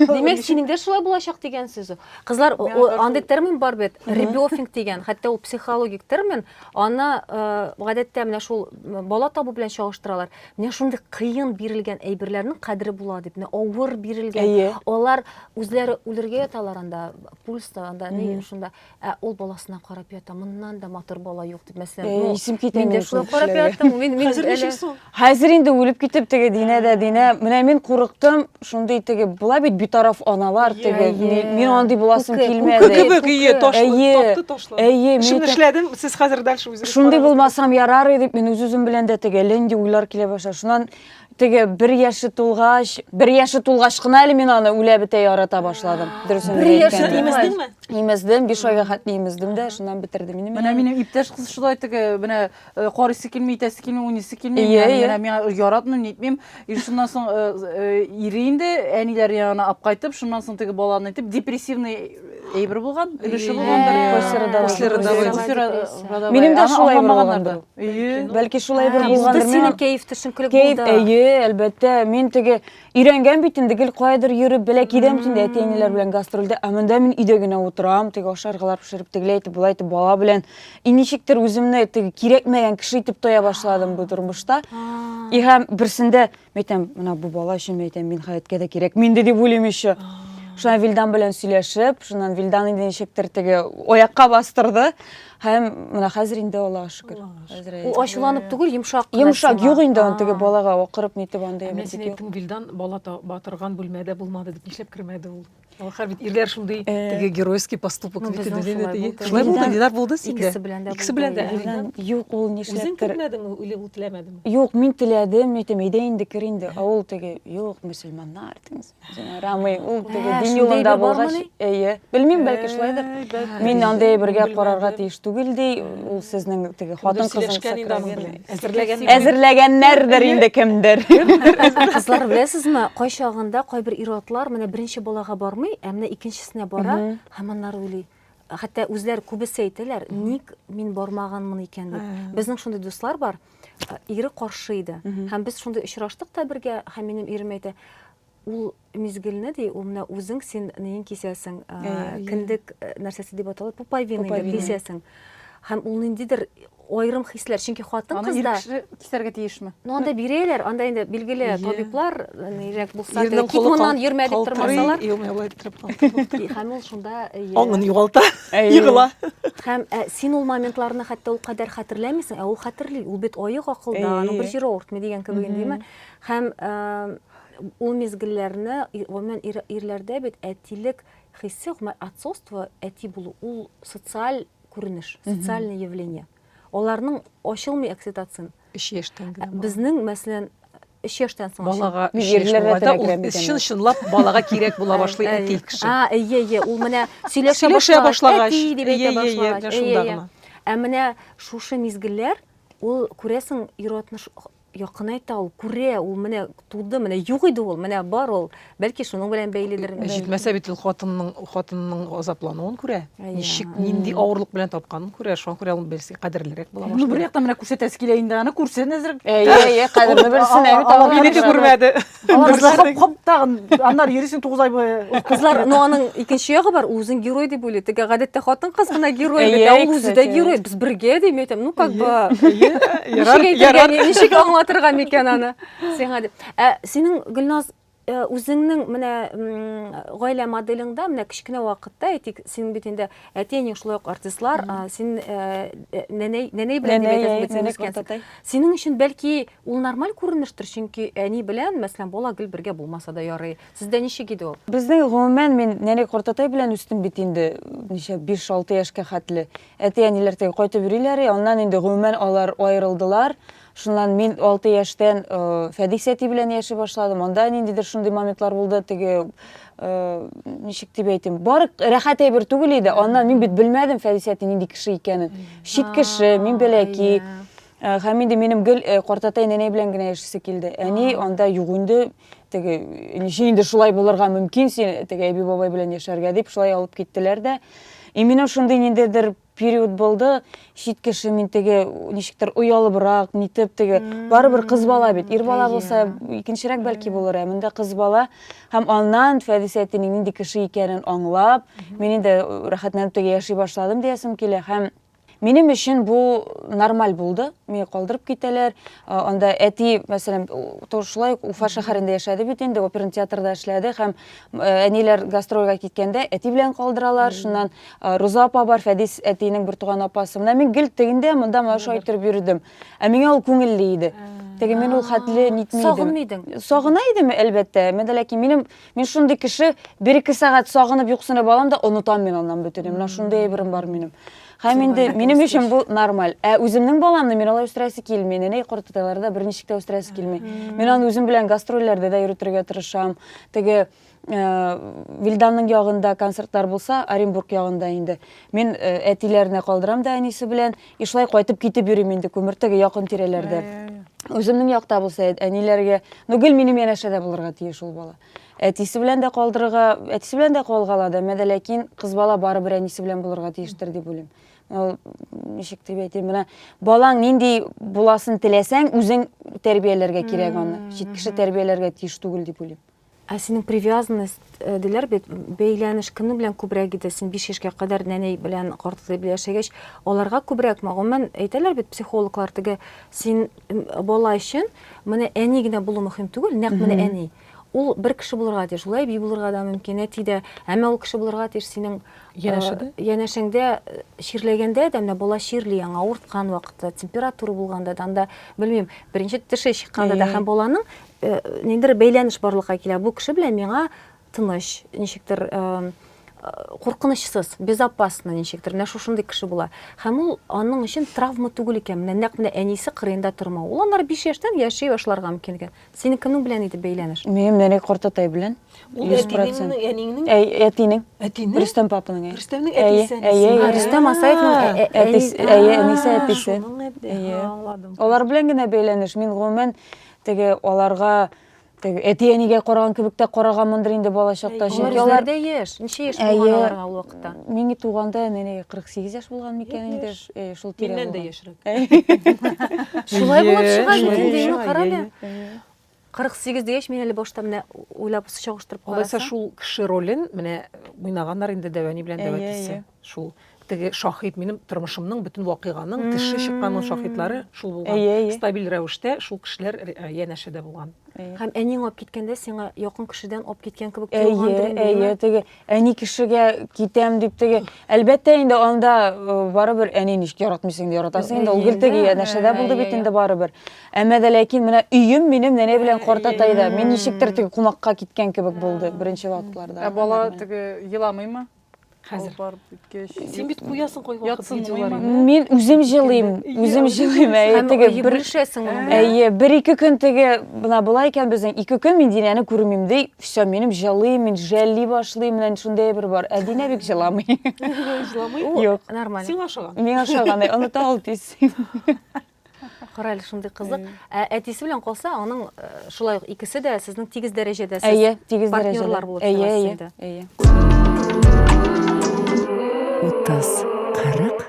Димәк, синең дә шулай булачак дигән сүз. Кызлар, о- о- андый термин бар бит, ребёфинг дигән, хәтта ул психологик термин. Аны э, гадәттә менә шул м, бала табу белән чагыштыралар. Менә шундый кыен бирелгән әйберләрнең кадере була дип, менә авыр бирелгән. Әйе. Алар үзләре үлергә яталар анда, пульста анда, ни шунда. Ә ул баласына карап ята, моннан да матур бала юк дип, мәсәлән, Э, ну, исем китә мин дә минем шулай шул карап кешеләргә. яттым, мин, мин Хәзер әле- ничек соң? Хәзер инде үлеп китеп теге Динә дә Динә. Менә мин курыктым, шундый теге була бит битараф аналар теге. Әйе. Ми- Мин андый буласым Күке, килмәде. Күке Әйе, кебек, әйе, күке. таш, Әйе. тапты ташлы. Әйе, мин Шуны әйтәм, эшләдем, сез хәзер дальше үзегез шундый карагыз. булмасам ярар иде, мин үз-үзем белән дә теге лендий уйлар килә башлады. Шуннан Теге бер яше тулгач, бер яше тулгач кына әле мин аны үлә бетә ярата башладым. Дөресен Бер яше әйткәндә. имез- Имездеңме? Имездем, биш айга хәтле имездем дә, шуннан бетерде мине. Менә минем иптәш кыз шулай теге менә э, карыйсы килми, итәсе килми, уйныйсы килми. Ие, Менә- ие. Менә миңа яратмыйм, нитмим. И шуннан соң э, э, ире инде әниләр янына алып кайтып, шуннан соң теге баланы итеп депрессивный Әйбер булган, өлеше булган бер после родовой. Минем дә шулай булган. Бәлки шулай бер булган. Без синең кәеф төшен күлек булды. Кәеф, әйе, әлбәттә. Мин теге өйрәнгән бит инде гел кайдыр йөреп, белә кидәм тинде әти-әниләр белән гастрольдә. Ә монда мин өйдә генә утырам, теге ашаргалар пешереп, тегеләй итеп, болай итеп бала белән. И ничектер үземне теге кирәкмәгән кеше итеп тоя башладым бу тормышта. И һәм берсендә Мен әйтәм, менә бу бала өчен мен әйтәм, мин хәяткә дә кирәк минде дип уйлыйм еще. Шуннан Вилдан белән сөйләшеп, шуннан Вилдан инде ничектер теге аякка бастырды. Һәм менә хәзер инде Аллага шөкер. Хәзер Ул ачуланып түгел, йомшак. кына Йомшак сиңа. юк инде аны теге А. балага акырып нитеп андый Ә мен әйбер сине юк. әйттем, Вилдан бала та- батырган бүлмәдә булмады дип, нишләп кермәде ул? Алхар бит ирләр шундый теге геройский поступок бит инде димә теге. Шулай булды, Динар булды синдә. Икесе белән дә. Икесе белән дә. Юк, ул нишләптер. Үзең телмәдеңме или ул теләмәдеме? Юк, мин теләдем, әйтәм, әйдә инде кер инде. Ә ул теге, юк, мөселманнар дигез. Ярамый, ул теге дин юлында булгач, әйе. Белмим, бәлки шулайдыр. Мин андый бергә карарга тиеш түгел ди. Ул сезнең теге хатын кызын сакраган. Әзерләгән. Әзерләгәннәрдер инде кемдер. Кызлар беләсезме, кайчагында кайбер ир-атлар менә беренче балага бармый, ә менә икенчесенә бара, һәм аннары уйлый. Хәтта үзләр күбесе әйтәләр, ник мин бармаганмын икән дип. Безнең шундый дуслар бар, ире каршы иде. Һәм без шундый очраштык та бергә, һәм минем ирем әйтә, Ул мизгелне ди, ул менә үзең син нең кисәсең, кендек нәрсәсе дип атала, пупайвина дип кисәсең. Һәм ул ниндидер айрым хисләр, чөнки хатын кызда... Аны ир кеше кисәргә тиешме? Ну, анда бирәләр, анда инде билгеле табиблар, нирәк булса, кит моннан йөрмә дип тормасалар. Һәм ул шунда... Аңын югалта, егыла. Һәм син ул моментларны хәтта ул кадәр хәтерләмисең, ә ул хәтерли, ул бит аек акылда, аның бер җире авыртмый дигән кебек инде, димме? Һәм Ул мизгелләрне, гомумән, ир, ирләрдә бит әтилек хисе, гомумән, отцовство, әти булу, ул социаль күренеш, социальное явление. Аларның ачылмый окситоцин. Өч яшьтән генә. Безнең, мәсәлән, өч яшьтән соң балага өч яшь булганда ул чын чынлап балага кирәк була башлый әти кеше. А, әйе, әйе, ул менә сөйләшә башлагач, әти дип әйтә башлагач. Ә менә шушы мизгелләр, ул күрәсең, ир-атны Якынайта ул, күрә, ул менә туды, менә юк иде ул, менә бар ул. Бәлки шуның белән бәйледер. Ә җитмәсә бит ул хатынның, хатынның азаплануын күрә. Ничек, нинди авырлык белән тапканын күрә. Шуңа күрә ул берсе кадерлерәк була башлый. Ну, бер яктан менә күрсәтәсе килә инде аны, күрсен әзрәк. Әйе, әйе, кадерне белсен, ә бит аңа. Минеке күрмәде. Алар шоп хоп тагын аннар йөрисең 9 ай буе. Кызлар, ну аның икенче ягы бар, үзен герой дип уйлый. Тегә гадәттә хатын кыз гына герой бит, ә ул үзе дә герой. Без бергә дим, әйтәм, ну как бы. Ярар, ничек аңлатырга микән аны? Сиңа дип. Ә синең Гөлназ э, үзеңнең менә гаилә моделеңдә менә кечкенә вакытта әйтик синең бит инде әтиәнең шулай ук артистлар син э, э, нәнәй нәнәй белән дип әйтәсең синең өчен бәлки Ул нормаль күренештер, чөнки әни белән, мәсәлән, бала гел бергә булмаса да ярый. Сездә ничек иде ул? Безнең, гомумән, мин нәни картатай белән үстем бит инде, ничә, биш-алты яшькә хәтле. Әти-әниләр теге кайтып йөриләр и, аннан инде, гомумән, алар аерылдылар. Шуннан мин алты яшьтән Фәдис әти белән яши башладым. Анда ниндидер шундый моментлар булды, теге, ничек дип әйтим, бары рәхәт әйбер түгел иде. Аннан мин бит белмәдем Фәдис әти нинди кеше икәнен. Чит кеше, мин бәләки. Ә, Һәм инде минем гел э, картатай нәнәй белән генә яшисе килде. Әни анда юк инде, теге ничә инде шулай булырга мөмкин син теге әби бабай белән яшәргә дип шулай алып киттеләр дә. И минем шундый ниндидер период булды, чит кеше мин теге ничектер оялыбрак, нитеп теге барыбер кыз бала бит. Ир бала булса икенчерәк бәлки булыр, ә монда кыз бала. Һәм аннан Фәдис әтинең нинди кеше икәнен аңлап, мин инде рәхәтләнеп теге яши башладым диясем килә һәм Минем өчен бу нормаль булды. Мине калдырып китәләр. Анда әти, мәсәлән, шулай ук Уфа шәһәрендә яшәде бит инде, оперный театрда эшләде һәм әниләр гастрольгә киткәндә әти белән калдыралар. Шуннан Руза апа бар, Фәдис әтинең бертуган апасы. Менә мин гел тегендә, монда моны шулай иттереп йөрдем. Ә миңа ул күңелле иде. Теге мин ул хәтле нитми идем. Сагынмый идең? Сагына идем, әлбәттә. Менә ләкин минем Мин шундый кеше, бер-ике сәгать сагынып юксынып алам да онытам мин аннан бөтенен. Менә шундый әйберем бар минем. Һәм инде минем өчен бу нормаль. Ә үземнең баламны мин алай үстерәсе килми. Нәнәй кортыталар да берничек тә үстерәсе килми. Мин аны үзем белән гастрольләрдә дә йөртергә тырышам. Теге Вильданның ягында концертлар булса, Оренбург ягында инде. Мин әтиләренә калдырам да әнисе белән. И шулай кайтып китеп йөрим инде күмертәгә якын тирәләрдә. Үземнең якта булса, әниләргә, ну гел минем янәшәдә булырга тиеш ул бала. Әтисе белән дә калдырырга, әтисе белән дә калга ала да, мәдә ләкин кыз бала барыбер әнисе белән булырга тиештер дип уйлыйм. Ул ничек дип әйтим, менә балаң нинди буласын теләсәң, үзең тәрбияләргә кирәк аны. Чит кеше тәрбияләргә тиеш түгел дип уйлыйм. Ә синең привязанность э, диләр бит, бәйләнеш кемнең белән күбрәк иде? Син 5 яшькә кадәр нәни белән картатай белән яшәгәч, аларга күбрәкме? Гомумән әйтәләр бит психологлар теге син бала өчен менә әни генә булу мөһим түгел, нәкъ менә әни. Ул бер кеше булырга тиеш, шулай би булырга да мөмкин, әти дә, әмма ул кеше булырга тиеш синең янәшәдә. Э, янәшәңдә э, чирләгәндә дә менә бала чирли яңа, авырткан вакытта, температура булганда да, анда белмим, беренче теше чыкканда да һәм баланың Э, ниндер бәйләнеш барлыкка килә бу кеше белән миңа тыныч ничектер э, э, куркынычсыз безопасно ничектер менә шушындый кеше була һәм ул аның өчен травма түгел икән менә нәкъ менә әнисе кырыенда тормау ул аннары биш яшьтән яши башларга мөмкин икән синең кемнең белән иде бәйләнеш минем нәни картатай белән йөз процент әниңнең әтинең әтинең рөстәм папаның рөстәмнең әтисе рөстәм асаевның әтисе әнисе әтисе аңладым алар белән генә бәйләнеш мин гомумән Теге аларга теге әти-әнигә караган кебек тә караганмындыр инде балачакта. Чөнки алар да яшь. Ничә яшь булган аларга ул вакытта? Миңа туганда менә 48 яшь булган микән инде? Әйе, шул тирә. Миннән дә яшьрәк. Шулай булып чыга бит инде, карале. 48 дигәч, мин әле башта менә уйлап чагыштырып карасам. Алайса шул кеше ролен менә уйнаганнар инде Дәвәни белән Дәвәтисе. Әйе, әйе. Шул теге шаһит минем тормышымның бөтен вакыйганың теше чыкканның шаһитлары шул булган. Әйе, әйе. Стабиль рәвештә шул кешеләр э, янәшәдә булган. Һәм әниң алып киткәндә сиңа якын кешедән алып киткән кебек тоелгандыр инде. Әйе, әйе, теге әни кешегә китәм дип теге. Әлбәттә инде анда э, барыбер әни ничек яратмыйсың инде яратасың инде ул гел теге янәшәдә булды бит инде барыбер. Әмма дә ләкин менә өем минем нәнә белән картатайда. Мин ничектер теге кунакка киткән кебек булды беренче вакытларда. Ә бала теге еламыймы? Хәзер. Алып барып беткәч. Син бит куясың кайвакыт Ятсын, видеоларны. уйман. Мин үзем җылыйм, Иә, үзем үзең җылыйм. җылыйсың. Әйе, Һәм теге бер бүлешәсең моның белән. Әйе, бер-ике көн теге менә болай икән безнең, ике көн мин Динәне күрмим ди, всё, минем җылыйм, мин жәлли башлыйм, менә шундый әйбер бар. Ә Динә бик җыламый. Җыламый? Ул Юк. нормаль. Сиңа ошаган. Миңа ошаган, ә оныта ул тиз. Кара әле шундый кызык. Ә әтисе белән калса, аның э, шулай ук икесе дә сезнең тигез дәрәҗәдә сез Әйе, тигез дәрәҗәдә. партнерлар булып Әйе, чыгасыз әйе, инде. әйе. 30, 40,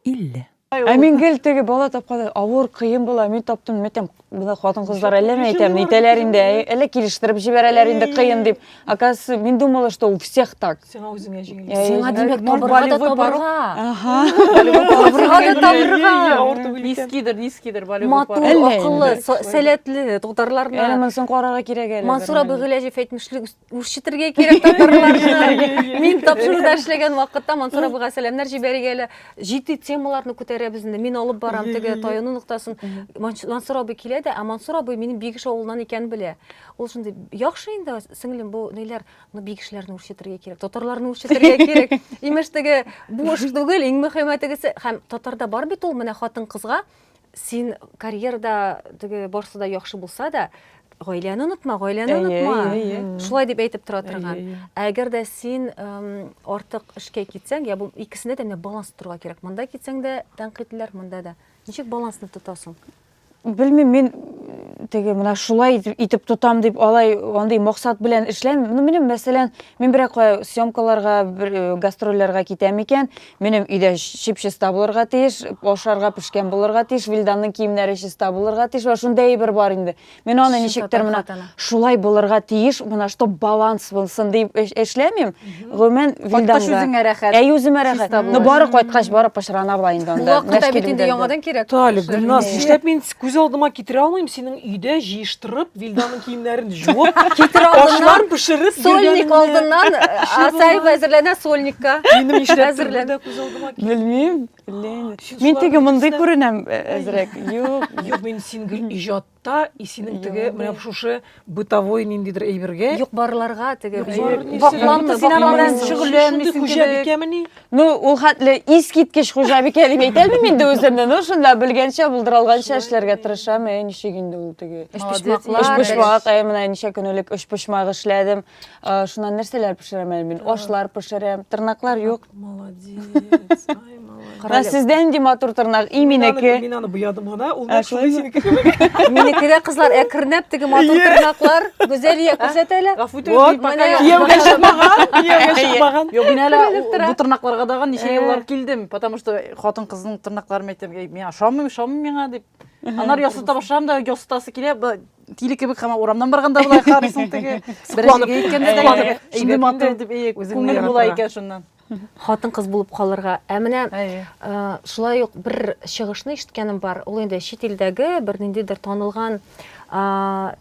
50. Ә мин гел теге бала тапканда авыр, кыен була, мин таптым, мәтәм, бына хатын-кызлар әллә ни әйтәм, әйтәләр инде, әй, әллә килештереп җибәрәләр инде кыен дип. Оказывается, мен думала, что у всех так. Сиңа үзеңә җиңел. Э, Сиңа димәк, табырга да табырга. Ага. Табырга да табырга. Нискидер, нискидер, балюбы Матур, акыллы, сәләтле татарларны. Әле монсын карарга кирәк әле. Мансур абый Гыйләҗев әйтмешли, үрчетергә кирәк татарларны. Мин тапшыруда эшләгән вакытта Мансур абыйга сәламнәр җибәрергә әле. Җитди темаларны күтәрәбез инде. Мин алып барам теге таюны ноктасын. Мансур абый килә дә, ә Мансур абый минем Бигеш авылыннан икән белә. Ул шундый, яхшы инде, сеңлем, бу ниләр, ну бик кешеләрне үрчетергә кирәк, татарларны үрчетергә кирәк. Имеш теге буш түгел, иң мөһиме тегесе. Һәм татарда бар бит ул менә хатын кызга син карьерада теге барсы да яхшы булса да, гаиләне онытма, гаиләне онытма. Шулай дип әйтеп тора торган. Ә әгәр дә син артык эшкә китсәң, я бу икесендә дә менә баланс торырга кирәк. Монда китсәң дә тәнкыйтьләр, монда да. Ничек балансны тотасың? Белмим, мин теге менә шулай итеп тотам дип алай андый максат белән эшләм. Ну минем мәсәлән, мин берәк съемкаларга, бер э, гастрольләргә китәм икән, минем өйдә чип-чиста булырга тиеш, ашарга пешкән булырга тиеш, Вилданның киемнәре чиста булырга тиеш. Ва шундый әйбер бар инде. Мин аны ничектер менә шулай булырга тиеш, менә чтоб баланс булсын дип эшләмим. Гомумән, Кайткач вилданга. үзеңә рәхәт. Әй, үземә рәхәт. Чиста Ну, булыр. бары кайткач, бары пычрана була инде Бу анда. вакытта Нәшки бит инде дилдәлдә. яңадан кирәк. Талиб, Шәлме? Гөлназ, нишләп мин күз алдыма китерә алмыйм синең өйдә җыештырып, Вилданың киемнәрен җуып, Китер алдыннан, ашлар пешереп сольник йөргәнеңне. алдыннан, Асаев булмас. әзерләнә сольникка. Минем нишләп Әзерлән. да күз алдыма кит- Белмим. Лен. Син Мин шуларның теге мондый күренәм э, әзрәк. Юк. Юк, мин син гел иҗат Та и синең теге менә шушы бытовой ниндидер әйбергә юк барларга теге вакламны син аның белән шөгыльләнмисең хуҗабикәмени ну ул хәтле искиткеч хуҗабикә дип әйтә алмыйм инде үземне ну шунда белгәнчә булдыралганча эшләргә тырышам әй ничек инде ул теге өчпочмаклар өчпочмак әй менә ничә көн элек өчпочмак эшләдем Ә, Шуннан нәрсәләр пешерәм әле мин? Ашлар пешерәм. Тырнаклар юк. Молодец. Ай, молодец. Менә Карале. сездә нинди матур тырнак, и Мин аны- минеке. Мин аны буядым гына, ул Ә, нәкъ шулай шулай синеке. Минеке дә кызлар әкренләп теге матур тырнаклар Гүзәлия күрсәт әле. Гафу итегез, Вот, мин пока менә. яшьли. Кияүгә чыкмаган, кияүгә чыкмаган. Юк, мин әле Күренеп тора. бу тырнакларга дагы ничә Э. еллар килдем, потому что хатын кызның тырнакларын әйтәм, «Эй, миңа ошамый, ошамый миңа дип. Анар ясата башлам да, ясатасы килә, б- тиле кебек һәм урамнан барганда болай карыйсың теге беренчегә әйткәндә дә шундый матур дип күңел була икән шуннан хатын кыз булып калырга ә менә шулай ук бер чыгышны ишеткәнем бар ул инде чит илдәге бер ниндидер танылган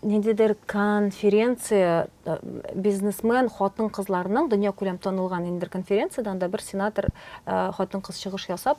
ниндидер конференция бизнесмен хатын кызларның дөнья күләм танылган ниндидер конференциядә анда бер сенатор хатын кыз чыгыш ясап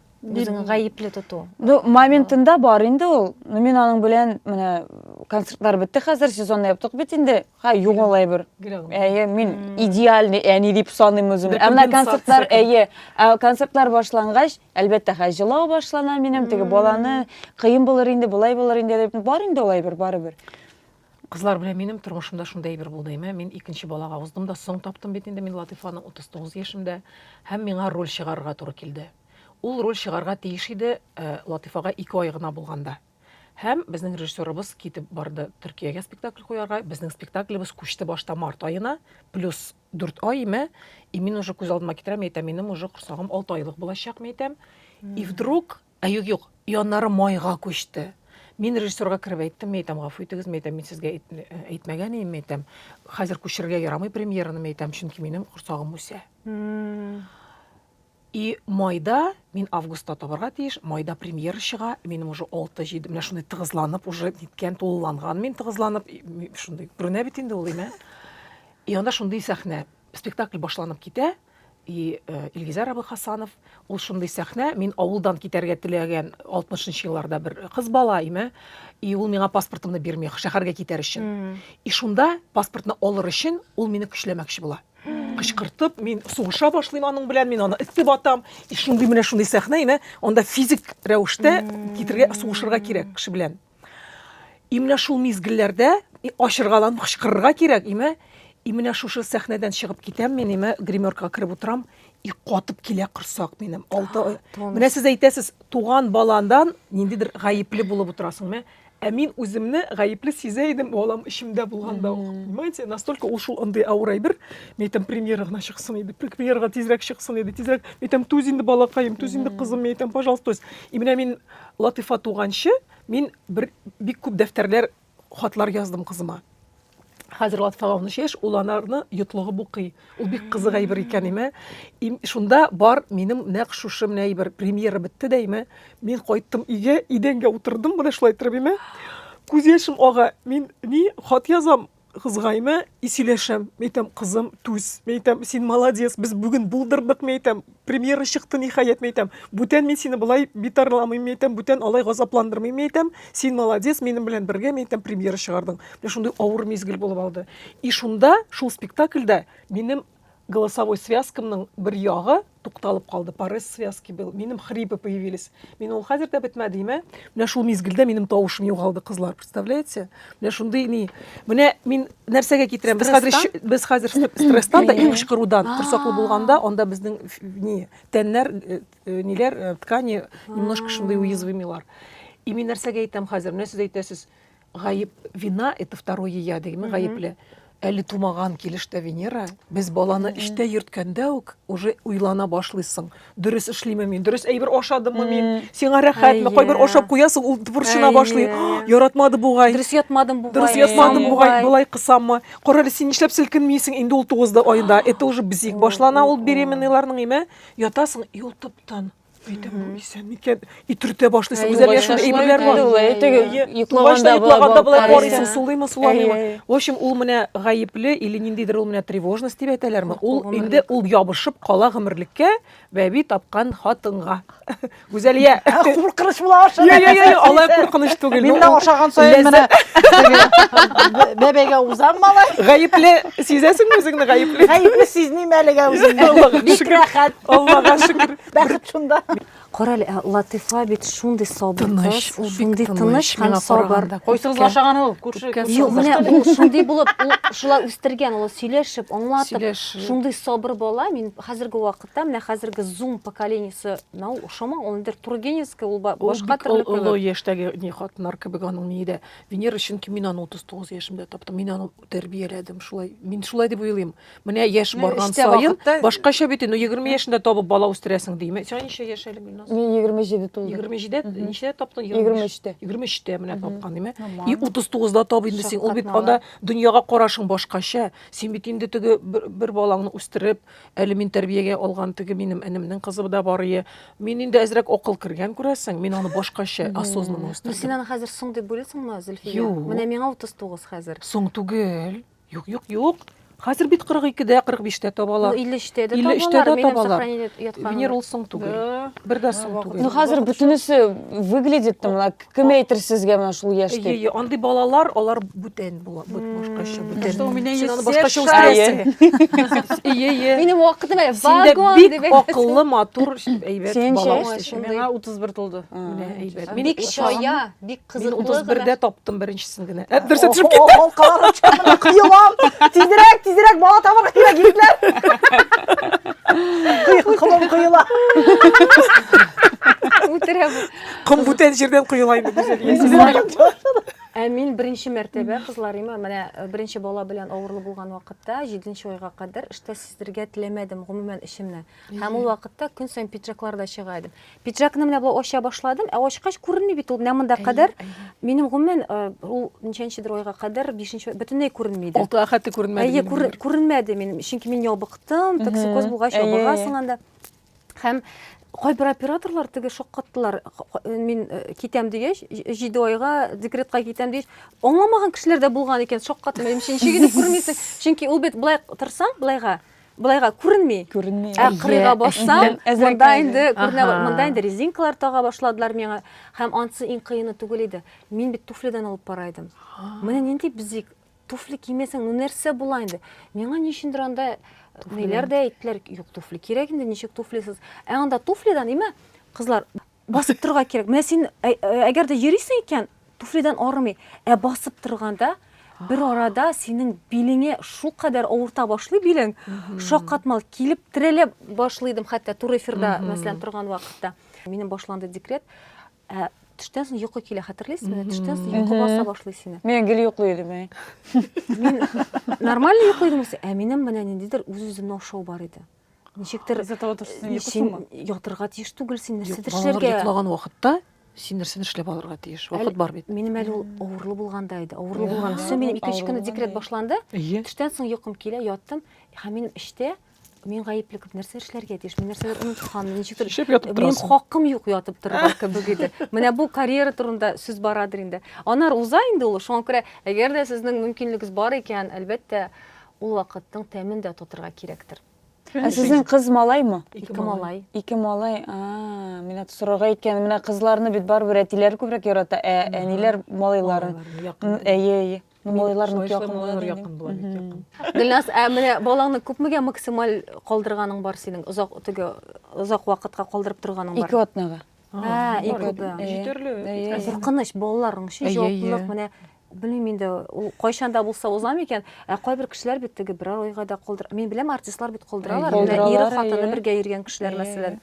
Үзеңне гаепле тоту. Ну, моментында бар инде ул. Ну, мин аның белән менә концертлар бетте хәзер, сезонны яптык бит инде. Ха, югала әйбер. Әйе, мин идеальный әни дип саныйм үземне. Ә менә концертлар, әйе, ә концертлар башлангач, әлбәттә, хә җылау башлана минем, теге баланы кыен булыр инде, болай булыр инде дип. Бар инде ул әйбер барыбер. Кызлар белән минем тормышымда шундый әйбер булды, әйме? Мин икенче балага уздым да, соң таптым бит инде мин Латыйфаны 39 яшемдә, һәм миңа роль чыгарырга туры килде. Ул роль чыгарга тиеш иде э, Латыйфага ике ай гына булганда. Һәм безнең режиссерыбыз китеп барды Төркиягә спектакль куярга. Безнең спектаклебез күчте башта март аена, плюс дүрт ай, әйме? И мин уже күз алдыма китерәм, әйтәм, минем уже корсагым алты айлык булачак, мин әйтәм. И вдруг Ә юк, юк, яннары майга күчте. Мин режиссерга кереп әйттем, мин әйтәм, гафу итегез, мин әйтәм, мин сезгә әйтмәгән идем, мин әйтәм, хәзер күчерергә ярамый премьераны, мин әйтәм, чөнки минем корсагым үсә. И майда мин августта табарга тиеш, майда премьера чыга, минем уже 6-7, менә шундый тыгызланып, уже ниткән, тулыланган мин тыгызланып, шундый, күренә бит инде ул, имә. И анда шундый сәхнә, спектакль башланып китә, И э, Илгизәр абый Хасанов, ул шундый сәхнә, мин авылдан китәргә теләгән 60 нчы елларда бер кыз бала име, и ул миңа паспортымны бирми, шәһәргә китәр өчен. И шунда паспортны алыр өчен ул мине көчләмәкче була. Кычкыртып, мин сугыша башлыйм аның белән, мин аны эссе батам. И шундый менә шундый сәхнә име, анда физик рәвештә китергә, сугышырга кирәк кеше белән. И менә шул мизгелләрдә ачыргаланып кычкырырга кирәк, име? И менә шушы сәхнәдән чыгып китәм мин, име? Гримеркага кереп утырам, и катып килә корсак минем. Алты ай. Менә сез әйтәсез, туган баландан ниндидер гаепле булып утырасың, име? Ә мин үземне гаепле сизә идем, балам эчемдә булганда ук. Понимаете? Настолько ул шул андый авыр әйбер. Мин әйтәм, премьера гына чыксын иде, премьерага тизрәк чыксын иде, тизрәк. Мин әйтәм, түз инде балакаем, түз инде кызым, мин әйтәм, пожалуйста, түз. И менә мин Латыйфа туганчы, мин бер бик күп дәфтәрләр, хатлар яздым кызыма. Хәзер Латыйфага 13 яшь, ул анарны йотлыгып укый. Ул бик кызык әйбер икән, име. Им, шунда бар минем нәкъ шушы менә әйбер. Премьера бетте дә, име. Мин кайттым өйгә, идәнгә утырдым, менә шулай иттереп, име. Күз яшем ага. Мин ни хат язам, кызгаймы и сөйләшәм. Мин әйтәм, кызым, түз. Мин әйтәм, син молодец, без бүген булдырдык, мин әйтәм, премьера чыкты ниһаять, мин әйтәм. Бүтән мин сине болай битарламыйм, мин әйтәм, бүтән алай газапландырмыйм, мин әйтәм, син молодец, минем белән бергә, мин әйтәм, премьера чыгардың. Менә шундый авыр мизгел булып алды. И шунда, шул спектакльдә минем голосовой связкамның бер ягы тукталып калды. Парез связки был. Минем хрипы появились. Мин ул хәзер дә бетмәде имә. Менә шул мизгелдә минем тавышым югалды, кызлар, представляете? Менә шундый ни. Менә мин нәрсәгә китерәм? Без хәзер ич- без хәзер стресстан да иң кычкырудан корсаклы булганда, анда безнең ф- ни тәннәр, э, э, ниләр, э, ткани немножко шундый уязвимилар. И мин нәрсәгә әйтәм хәзер? Менә сез әйтәсез, Гаеп вина это второе я дигәнме гаепле. Әле тумаган килеш тә Венера. Без баланы эштә йөрткәндә үк уже уйлана башлыйсың. Дөрес эшлиме мин? Дөрес әйбер ашадымы мин? Сиңа рәхәтме? Кайбер ашап куясың, ул борчына башлый. Яратмады бугай. Дөрес ятмадым бугай. Дөрес ятмадым бугай, болай кысаммы? Карале, син нишләп селкенмисең? Инде ул 9 да айда. Это уже бзик башлана ул беременныйларның име? Ятасың, юл топтан. Әйтәм, бу исән микән? Итертә башлыйсы, үзәл яшәү әйберләр бар. Йоклаганда йоклаганда болай карыйсың, сулыймы, суламыймы? В общем, ул менә гаепле или ниндидер ул менә тревожность дип әйтәләрме? Ул инде ул ябышып кала гомерлеккә бәби тапкан хатынга. Гүзәлия, куркыныч була аша. Я, я, я, алай куркыныч түгел. Мин дә ашаган саен менә бәбәгә узам малай. Гаепле сизәсеңме үзеңне гаепле? Гаепле сизмим әлегә үземне. Бик рәхәт. Аллага шөкер. Бәхет шунда. Кара әле, ә Латифа бит шундый сабыр Тыныч, кыз, ул бик шундый тыныч тыныч һәм миңа сабыр. караганда. Кайсыгыз Күпкә- ашаган ул? Күрше. күпкә күрше- Юк, менә ул шундый булып, ул шулай үстергән, ул сөйләшеп, аңлатып, Сөйләшеп. шундый сабыр бала. Мин хәзерге вакытта, менә хәзерге зум поколениесе, на ул ошамаган, ул нидер тургеневский, ул ба- Ул башка бик төрле ол- олы кебек. яшьтәге ни хатыннар кебек аның ни дә. Венера, чөнки мин аны 39 яшемдә таптым. Мин аны тәрбияләдем шулай мин шулай дип уйлыйм менә яшь барган саен башкача бит инде егерме яшендә табып бала үстерәсең дими сиңа ничә яшь әле гөлназ мин егерме җиде тулды егерме җидедә ничәдә таптың егерме өчтә егерме өчтә менә тапкан дими и утыз тугызда тап инде син ул бит анда дөньяга карашың башкача син бит инде теге бер балаңны үстереп Әле мин тәрбиягә алган теге минем энемнең кызы да бар ие. Мин инде әзрәк акыл кергән күрәсең, мин аны башкача осознанно үстердем. Ну син аны хәзер соң дип уйлыйсыңмы, Зөлфия? Юк. Менә миңа 39 хәзер. Соң түгел. Юк, юк, юк. Хәзер бит 42-дә, 45-тә табалар. Ну 53-тә дә табалар. 53-тә дә табалар. Венер ул соң түгел. Бер дә соң түгел. Ну хәзер бөтенесе выглядит там лак. Кем әйтер сезгә менә шул яшь дип? Әйе, андый балалар, алар бүтән була, бут башкача бүтән. Что у меня есть Син башкача үстерәсең. Әйе, әйе. Минем вакытым әле вагон дип. Синдә бик акыллы, матур, әйбәт бала үсеше. Миңа 31 тулды. Менә әйбәт. Мин бик чая, бик кызыклы. Мин 31дә таптым беренчесен генә. Ә дөрес төшеп китте. Ул калар чамына кыелам. Тизрәк, тизрәк бала табарга кирәк егетләр. Кыйкылым кыела. Үтерәм. Ком бүтән җирдән коела инде без Ә мин беренче мәртәбә кызларыма менә э, беренче бала белән авырлы булган вакытта, 7 нче айга кадәр эштә сиздергә теләмәдем гомумән эшемне. Һәм ул вакытта көн саен пиджаклар да чыга идем. Пиджакны менә болай ача башладым, ә ачкач күренми бит ул. Менә монда кадәр минем гомумән э, ул ничәнчедер айга кадәр, 5 бөтенләй күренми иде. Алты хәтта күренмәде. Әйе, күренмәде минем, чөнки мин ябыктым, токсикоз булгач ябыгасың анда. Һәм кайбер операторлар теге шаккаттылар э, мин э, китәм дигәч җиде айга декретка китәм дигәч аңламаган кешеләр дә булган икән шаккатым менимчә ничек итеп күрмисең чөнки ул бит былай торсаң былайга былайга күренми күренми ә кырыйга бассаң монда инде күренә монда инде резинкалар тага башладылар миңа һәм анысы иң кыены түгел иде мин бит туфлидан алып бара идем менә нинди бизик туфли кимесең, ну нәрсә була инде? Миңа ни өчендер анда ниләр дә әйттеләр, юк туфли кирәк инде, ничек туфлисыз? Ә анда туфлидан имә кызлар басып торга кирәк. Менә син әгәр дә йөрисең икән, туфлидан арымый. Ә басып торганда бер арада синең билеңе шул кадәр авырта башлый билең, шаккатмал килеп терәлә башлыйдым хәтта тур эфирда, мәсәлән, торган вакытта. Минем башланды декрет. Ә төштән соң йокы килә, хәтерлисезме? Төштән соң йокы баса башлый сине. Мин гел йоклый идем, әй. Мин нормально йоклый идем, ә минем менә ниндидер үз-үземне ашау бар иде. Ничектер Из-за того, что син йокысыңмы? Ятырга тиеш түгел, син нәрсәдер эшләргә. Йоклаган вакытта син нәрсәдер эшләп алырга тиеш. Вакыт бар бит. Минем әле ул авырлы булганда иде. Авырлы булган. Су минем икенче көнне декрет башланды. Төштән соң йокым килә, яттым. Һәм минем эчтә Мин гаепле күп нәрсә эшләргә тиеш. Мин нәрсәдер оныткан, ничектер. Шешеп ятып Мин торасың. хакым юк ятып торырга кебек иде. Менә бу карьера турында сүз барадыр инде. Анар уза инде ул. Шуңа күрә, әгәр дә сезнең мөмкинлегегез бар икән, әлбәттә, ул вакытның тәмен дә татырга кирәктер. Ә сезнең кыз малаймы? Ике малай. Ике малай. А, менә сорарга иткән. Менә кызларны бит барыбер әтиләр күбрәк ярата, ә әниләр малайларын. Балаларны якын. М, Әйе, әйе. Ну, малайлар нык якын була. Малайлар якын була, бик якын. Гөлназ, ә менә балаңны күпмегә максималь калдырганың бар синең? Озак теге озак вакытка калдырып торганың бар? Ике атнага. Ә, ике атна. Җитәрлек. Куркыныч балаларның өчен җаваплылык менә белмим инде ул кайчанда булса узам икән ә кайбер кешеләр бит теге бер айга да калдыра мин беләм артистлар бит калдыралар ире хатыны бергә йөргән кешеләр мәсәлән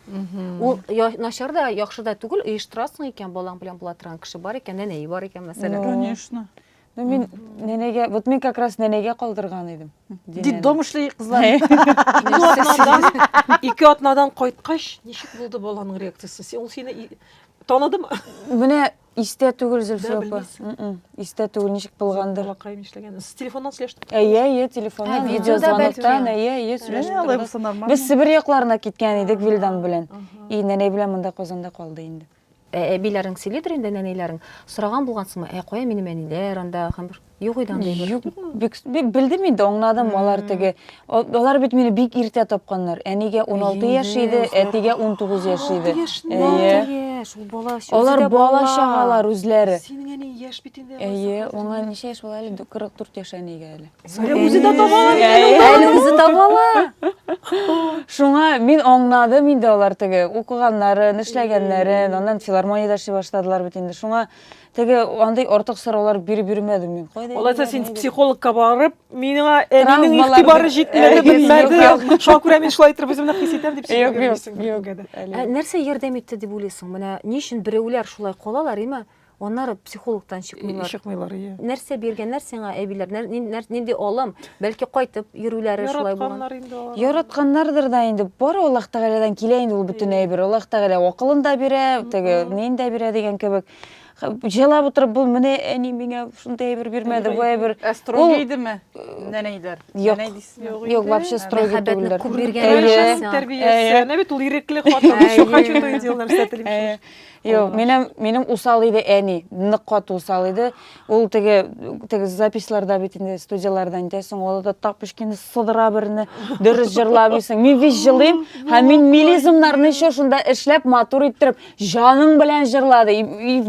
ул начар да яхшы да түгел оештырасың икән балаң белән була торган кеше бар икән әнәе бар икән мәсәлән конечно Ну, мин нәнәгә, вот мин как раз нәнәгә калдырган идем. Детдом эшли кызлар. Ике атнадан, ике атнадан кайткач, ничек булды баланың реакциясе? Син ул сине таныдым. Менә истә түгел Зөлфия апа. Истә түгел ничек булгандыр. Балакаем эшләгән. С телефоннан сөйләштек. Әйе, әйе, телефоннан, видеозвоноктан, әйе, әйе, сөйләштек. Без Себер якларына киткән идек Вилдан белән. И нәнәй белән монда Казанда калды инде. Ә әбиләрең сөйлидер инде, нәнәйләрең. Сораган булгансыңмы, ә кая минем әниләр анда, һәм бер юк иде анда. Юк, бик, бик белдем инде, аңладым, алар теге. Алар бит мине бик иртә тапканнар. Әнигә 16 яшь иде, әтигә 19 яшь иде. 16 яшь, ул бала. Алар бала чагалар үзләре. Синең әни яшь бит инде. Әйе, аңа ничә яшь була әле? 44 яшь әнигә әле. Әле үзе дә таба ала. Әле үзе таба ала. Шуңа мин аңнадым инде алар теге укыганнарын, эшләгәннәрен, аннан филармониядә эшли башладылар бит инде. Шуңа теге андый артык сораулар биреп йөрмәдем мин. Кайда? Алайса син психологка барып, миңа әнинең игътибары җитмәде, белмәде. Шуңа күрә мин шулай итеп үземне хис итәм дип сөйләп йөрмисең. Нәрсә ярдәм итте дип уйлыйсың? Менә ни өчен берәүләр шулай калалар, име? Аннары психологтан чыкмыйлар. Чыкмыйлар, ия. Нәрсә биргәннәр сиңа әбиләр? Нинди алым? Бәлки кайтып йөрүләре шулай булган. Яратканнар инде алар. Яратканнардыр да инде. Бары Аллаһ Тәгаләдән килә инде ул бөтен әйбер. Аллаһ Тәгалә акылын да бирә, теге нин дә бирә дигән кебек. Җылап утырып бул, менә әни миңа шундый әйбер бирмәде, бу әйбер. Ә строгий идеме? Нәнәйләр. Нәнәй дисең. Юк, вообще строгий түгелләр. Мәхәббәтне күп биргәннәр. Тәрбиясе. Әнә бит ул ирекле хатын. Шуңа чутый диләр, сәтлим. Юк, минем минем усал иде әни, нык кат усал иде. Ул теге теге записьларда бит инде студияләрдә әйтәсең, ул да тап пешкәне сыдыра берне, дөрес җырламыйсың. Мин бит җылыйм, һәм мин милизмнарны еще шунда эшләп матур иттереп, җаның белән җырлады.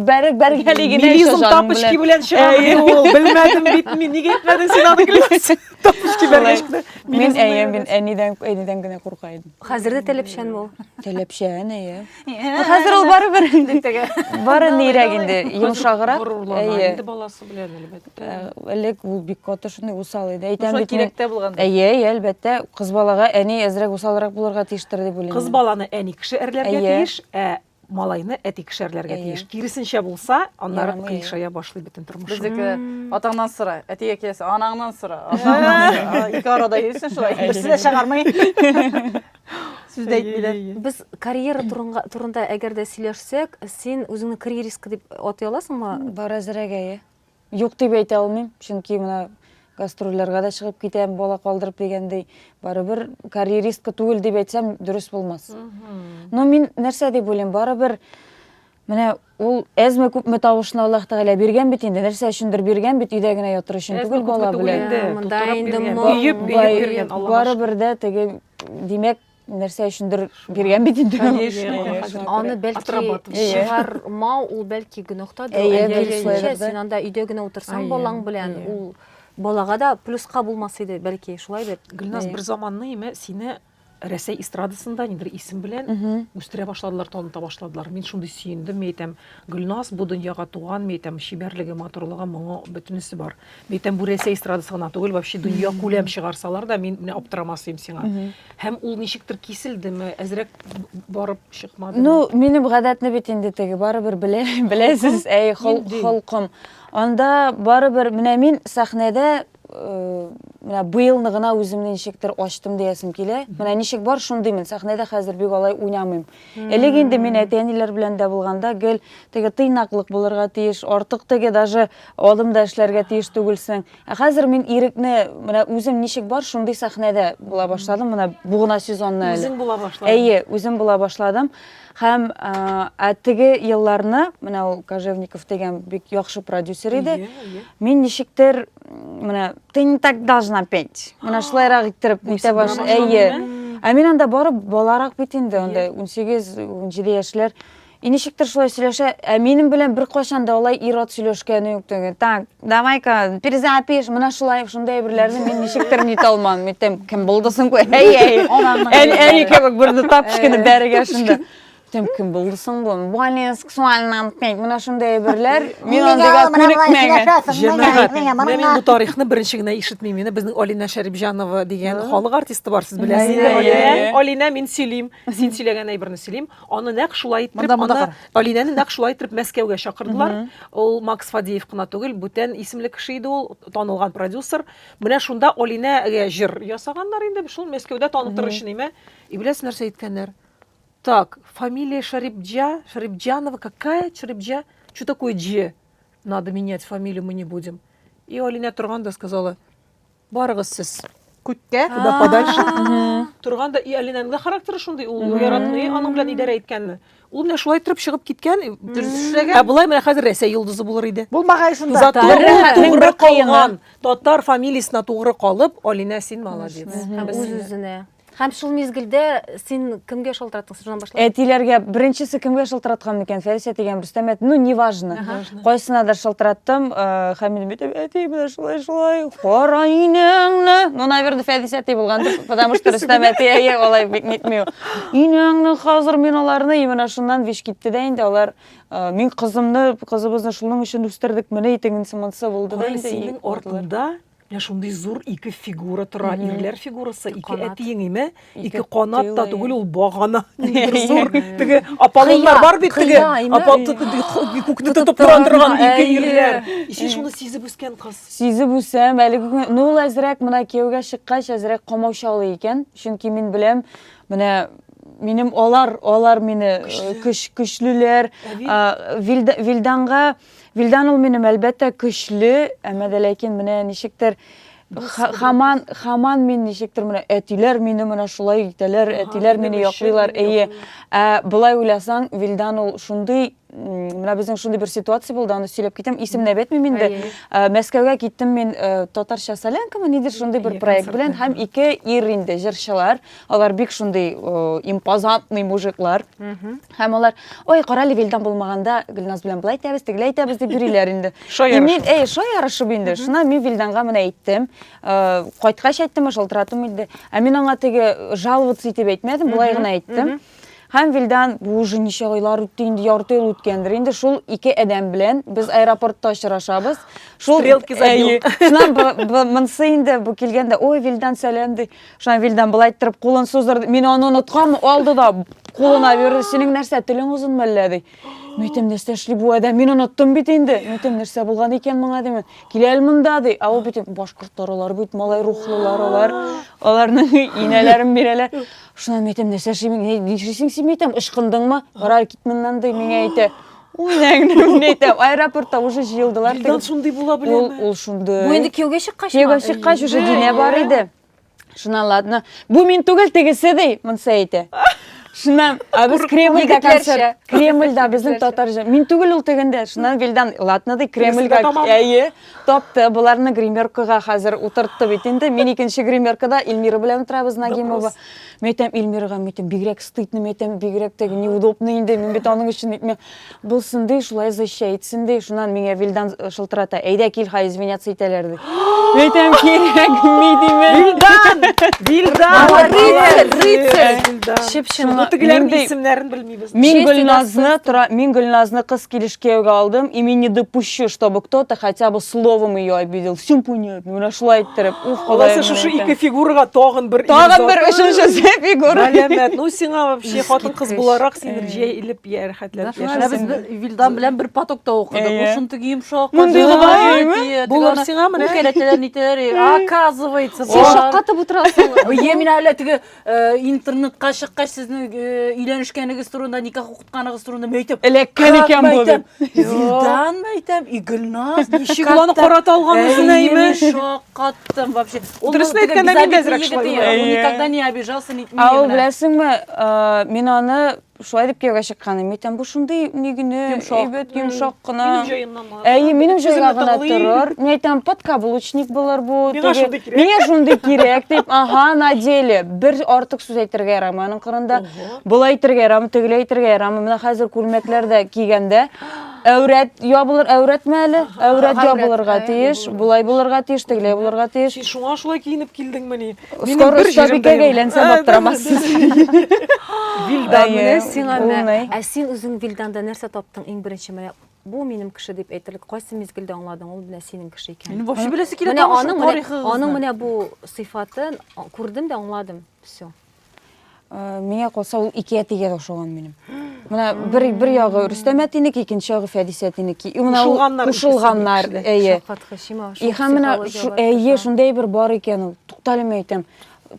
Бәрек бәргәли генә еще җаның белән. Милизм тапышки белән чыгарды ул. Белмәдем бит мин, нигә әйтмәдең син аны клипс? Тапышки бәргәшкә. Мин әйе, мин әнидән әнидән генә курка идем. Хәзер дә телепчән ул. Телепчән, әйе. Хәзер ул бары бер инде теге. Бары нирәк инде, йомшагырак. Әйе. Инде баласы белән әлбәттә. Элек ул бик каты шундый усал иде. Әйтәм бит. Кирәктә булган. Әйе, әйе, әлбәттә. Кыз балага әни әзрәк усалрак булырга тиештер дип уйлыйм. Кыз баланы әни кеше әрләргә тиеш, ә малайны әти кешәрләргә тиеш. Киресенчә булса, аннары кыйшая башлый бөтен тормыш. Безнеке атаңнан сора, әтигә киләсе, анаңнан сора. Ике арада йөрсен шулай. Берсе дә чыгармый. сүз дә әйтмиләр. Без карьера турында, турында әгәр дә сөйләшсәк, син үзеңне карьеристка дип атый аласыңмы? Бар әзрәк әйе. Юк дип әйтә алмыйм, чөнки менә гастрольләргә дә чыгып китәм, бала калдырып дигәндәй. Барыбер карьеристка түгел дип әйтсәм, дөрес булмас. Но мин нәрсә дип уйлыйм, барыбер Менә ул әзме күпме тавышны Аллаһ Тәгалә биргән бит инде, нәрсә өчендер биргән бит, өйдә генә ятыр өчен түгел бала белән. Барыбер дә теге, димәк, нәрсә өчендер биргән бит инде. Аны бәлки чыгармау, ул бәлки гөнаһта да. Әйе, син анда өйдә генә утырсаң балаң белән, ул балага да плюска булмас иде, бәлки, шулай бит. Гөлназ, бер заманны, сине Рәсәй эстрадасында нидер исем белән үстерә башладылар, таныта башладылар. Мин шундый сөендем, мин әйтәм, Гөлназ бу дөньяга туган, мин әйтәм, чибәрлеге, матурлыгы, моңы, бөтенесе бар. Мин әйтәм, бу Рәсәй эстрадасы гына түгел, вообще дөнья күләм чыгарсалар да, мин менә аптырамасыйм сиңа. Һәм ул ничектер киселдеме, әзрәк барып чыкмадымы? Ну, минем гадәтне бит инде теге барыбер белә, беләсез, әй, холкым. Анда барыбер, менә мин сәхнәдә э, менә быелны гына үземне ничектер ачтым диясем килә. Менә ничек бар, шундыймын. Сәхнәдә хәзер бик алай уйнамыйм. Элек инде мин әти-әниләр белән дә булганда гел теге тыйнаклык булырга тиеш, артык теге даже адым да эшләргә тиеш түгелсең. Ә хәзер мин ирекне менә үзем ничек бар, шундый сәхнәдә була башладым. Менә бу гына сезонны әле. Үзең була башладың. Әйе, үзем була башладым. Һәм ә теге елларны, менә ул Кожевников дигән бик яхшы продюсер иде. Мин ничектер менә ты не так должна петь. Менә шулайрак иттереп нитә баш. Әйе. Ә мин анда бары баларак бит инде, анда 18-17 яшьләр. И ничектер шулай сөйләшә, ә минем белән беркайчан да алай ир-ат сөйләшкәне юк түгел. Так, Давай-ка, перезапиш, мына шулай, шундай әйберләрне мин ничектер нитә алмам. Митем, кем булды соң бу? Әй, әй. Ән әни кебек бер тап кичкене бәрегә шунда. Митем, кем булды соң бу? Более сексуально антнет. Мына шундай әйберләр. Мин андыйга күнекмәгән. Җәмәгать, менә мин бу тарихны беренче генә ишетмим. Менә безнең Алина Шәрипҗанова дигән халык артисты бар, сез беләсезме? Алина, мин сөйлим. Син сөйләгән әйберне сөйлим. Аны нәкъ шулай иттереп, монда, монда аны Алинәне нәкъ шулай иттереп Мәскәүгә чакырдылар. Ул Макс Фадеев кына түгел, бүтән исемле кеше иде ул, танылган продюсер. Менә шунда Алинәгә җыр ясаганнар инде, шул Мәскәүдә танытыр өчен име. И беләсез нәрсә әйткәннәр? Так, фамилия Шарипджа, Шарипджанова, какая Шарипджа? Что такое Дже? Надо менять фамилию, мы не будем. И Алинә торган да сказала, Барыгыз сез күккә, куда подальше. Торган да и Алинаның да характеры шундый, ул яратмый аның белән идарә иткәнне. Ул менә шулай торып чыгып киткән. Ә болай менә хәзер Рәсәй йолдызы булыр иде. Булмагай шунда. Затлы Татар ул рәхәтнең тугры бер кыены. калган. Татар фамилиясенә тугры калып, Алина син молодец. Һәм Без сине- үз-үзенә. Һәм шул мизгелдә син кемгә шалтыраттың шуннан башлап? Әтиләргә беренчесе кемгә шалтыраткан микән? Фәрисә дигән Рөстәм әти, ну неважно. Кайсынадыр шалтыраттым, э, Хәмил битеп, әти менә шулай шулай, кара инәңне. Ну, наверное, Фәрисә әти булгандыр, потому что Рөстәм әти әйе алай бик нитми. Инәңне хәзер мин аларны, и менә шуннан виш китте дә инде алар э, мин кызымны, кызыбызны шуның өчен үстердек, менә итегенсе монсы булды да Алар инде. и синең калдылар. артыңда Менә шундый зур ике фигура тора, Мгм. ирләр фигурасы, ике Канат. әти еңиме? Ике Ике канат та тиле. түгел, ул багана. Ниндидер зур, теге Аполлоннар Кыя, бар бит теге. кыя, име? Апа- т- т- т- ху- Күкне Тотып тотып тора торган торган, ике әйе. ирләр. И син шуны сизеп үскән кыз. Сизеп үсәм, әлеге көнгә- ну ул әзрәк менә кияүгә чыккач әзрәк камаучалый икән, чөнки мин беләм, менә минем алар, алар мине э, Көчле. көч, көчлеләр, Ә бит, А, Вильда- Вильданга Вилдан ул минем әлбәттә көчле, әмма дә ләкин менә ничектер хаман хаман мин ничектер менә әтиләр мине менә шулай итәләр, әтиләр мине яклыйлар. Әйе. Ә былай уйласаң, Вилдан ул шундый менә безнең шундый бер ситуация булды, аны сөйләп китәм. Исемне әйтмим инде. Мәскәүгә киттем мин татарча солянкамы нидер шундый бер проект белән һәм ике ир инде җырчылар. Алар бик шундый импозантный мужиклар. Һәм алар, ой, карале Вилдан булмаганда, Гөлназ белән былай итәбез, тегеләй итәбез дип йөриләр инде. Шай И мин, әй, шай ярышып инде. Шуннан мин Вилданга менә әйттем. Э, Кайткач әйттем, ә шалтыратуым инде. Ә мин аңа теге э, жаловаться итеп әйтмәдем, былай гына әйттем. Һәм Вилдан, бу уже ничә айлар үтте инде, ярты ел үткәндер инде. Шул ике адәм белән без аэропортта очрашабыз. Шул Стрелки забил. Әйе. Шуннан бу- бу- монысы инде бу килгәндә, ой, Вилдан сәлам ди. Шуннан Вильдан былай иттереп кулын суздырды. Мин аны оныткам, алды да кулына бирде. Синең нәрсә, телең озынмы әллә ди. Митем нәрсә эшли бу адәм? Мин оныттым бит инде. Митем нәрсә булган икән моңа димен. Килә әле монда ди. Ә ул бит башкортлар алар бит малай рухлылар алар. Аларның инәләрен бирәләр. Шуннан митем нәрсә эшли? Нишлисең син митем? Ычкындыңмы? Карар кит моннан ди, миңа әйтә. аэропортта уже җыелдылар елдан шундый була беләме ул шундый бу инде кияүгә чыккач кияүгә чыккач уже динә бар иде шуна ладно бу мин түгел тегесе ди монысы әйтә шуннан а без кремльда концерт кремльда безнең татар мин түгел ул тегендә шуннан вилдан ладно ди кремльга әйе Тапты, боларны гримеркага хәзер утыртты бит инде. Мин икенче гримеркада Эльмира белән утырабыз, Нагимова. Мин әйтәм, Эльмирага, мин әйтәм, бигрәк стыдно, мин әйтәм, бигрәк теге неудобно инде, мин бит аның өчен әйтмим. Булсын ди, шулай защайтсын ди. Шуннан миңа Вилдан шылтырата, әйдә кил, хай извиняться итәләр ди. Мин әйтәм, кирәкми диме. Вилдан! Вилдан! Рыцарь, рыцарь! Чып-чын. Бу тегеләрнең исемнәрен белмим. Мин Гөлназны тора, мин Гөлназны кыз килеш кияүгә алдым, и мин не допущу, чтобы кто-то хотя бы словом ее обидел. Все понятно. Менә шулай иттереп. Уф, Алласы Ходаем. шушы ике фигурага тагын бер Тагын бер өченчесе фигура. Галәмәт. Ну сиңа вообще хатын кыз буларак син бер җәелеп я рәхәтләп яшәсен. Без Вилдан белән бер потокта укыдык. Ул шундый йомшак. Мондый гына. Булар сиңа менә. Үкәләтәләр нитәләр. Оказывается, син шаккатып утырасың. Бие мин әле теге Э, интернетка чыккач сезнең э, өйләнешкәнегез турында никах укытканыгыз турында мин әйтәм эләккән икән бу бит вилдан әйтәм и гөлназ ничек ул аны карата алган үзен әйме шаккаттым вообще дөресен әйткәндә мин дә әзрәк шулай никогда не обижался ул беләсеңме э, мин аны Шулай дип кияүгә чыкканым икән, бу шундый ни генә, әйбәт, йомшак кына. Минем җаемнан булыр. Әйе, минем җайга гына торыр. Мин әйтәм, подкаблучник булыр бу. Миңа шундый кирәк. Миңа шундый кирәк дип, ага, на деле. Бер артык сүз әйтергә ярамый аның кырында. Болай әйтергә ярамый, тегеләй әйтергә ярамый. Менә хәзер күлмәкләр дә кигәндә, әүрәт ябылыр, әүрәтмә әле. Әүрәт ябылырга тиеш, болай булырга тиеш, тегеләй булырга тиеш. Син шуңа шулай киенеп килдеңмени? Скоро бер җиребекәгә әйләнсәм аптырамасын. Вилдан менә сиңа менә. Ә син үзең Вилданда нәрсә таптың иң беренче менә бу минем кеше дип әйтерлек кайсы мизгелдә аңладың ул менә синең кеше икән мин вообще беләсе килә менә аның аның менә бу сыйфатын күрдем дә аңладым все Э, миңа калса ул ике әтигә дә ошаган минем мына бер бер ягы рөстәм әтинеке икенче ягы фәдис әтинеке кушылганнар кушылганнар әйе и һәм менә әйе шундай бер бар икән ул туктале мин әйтәм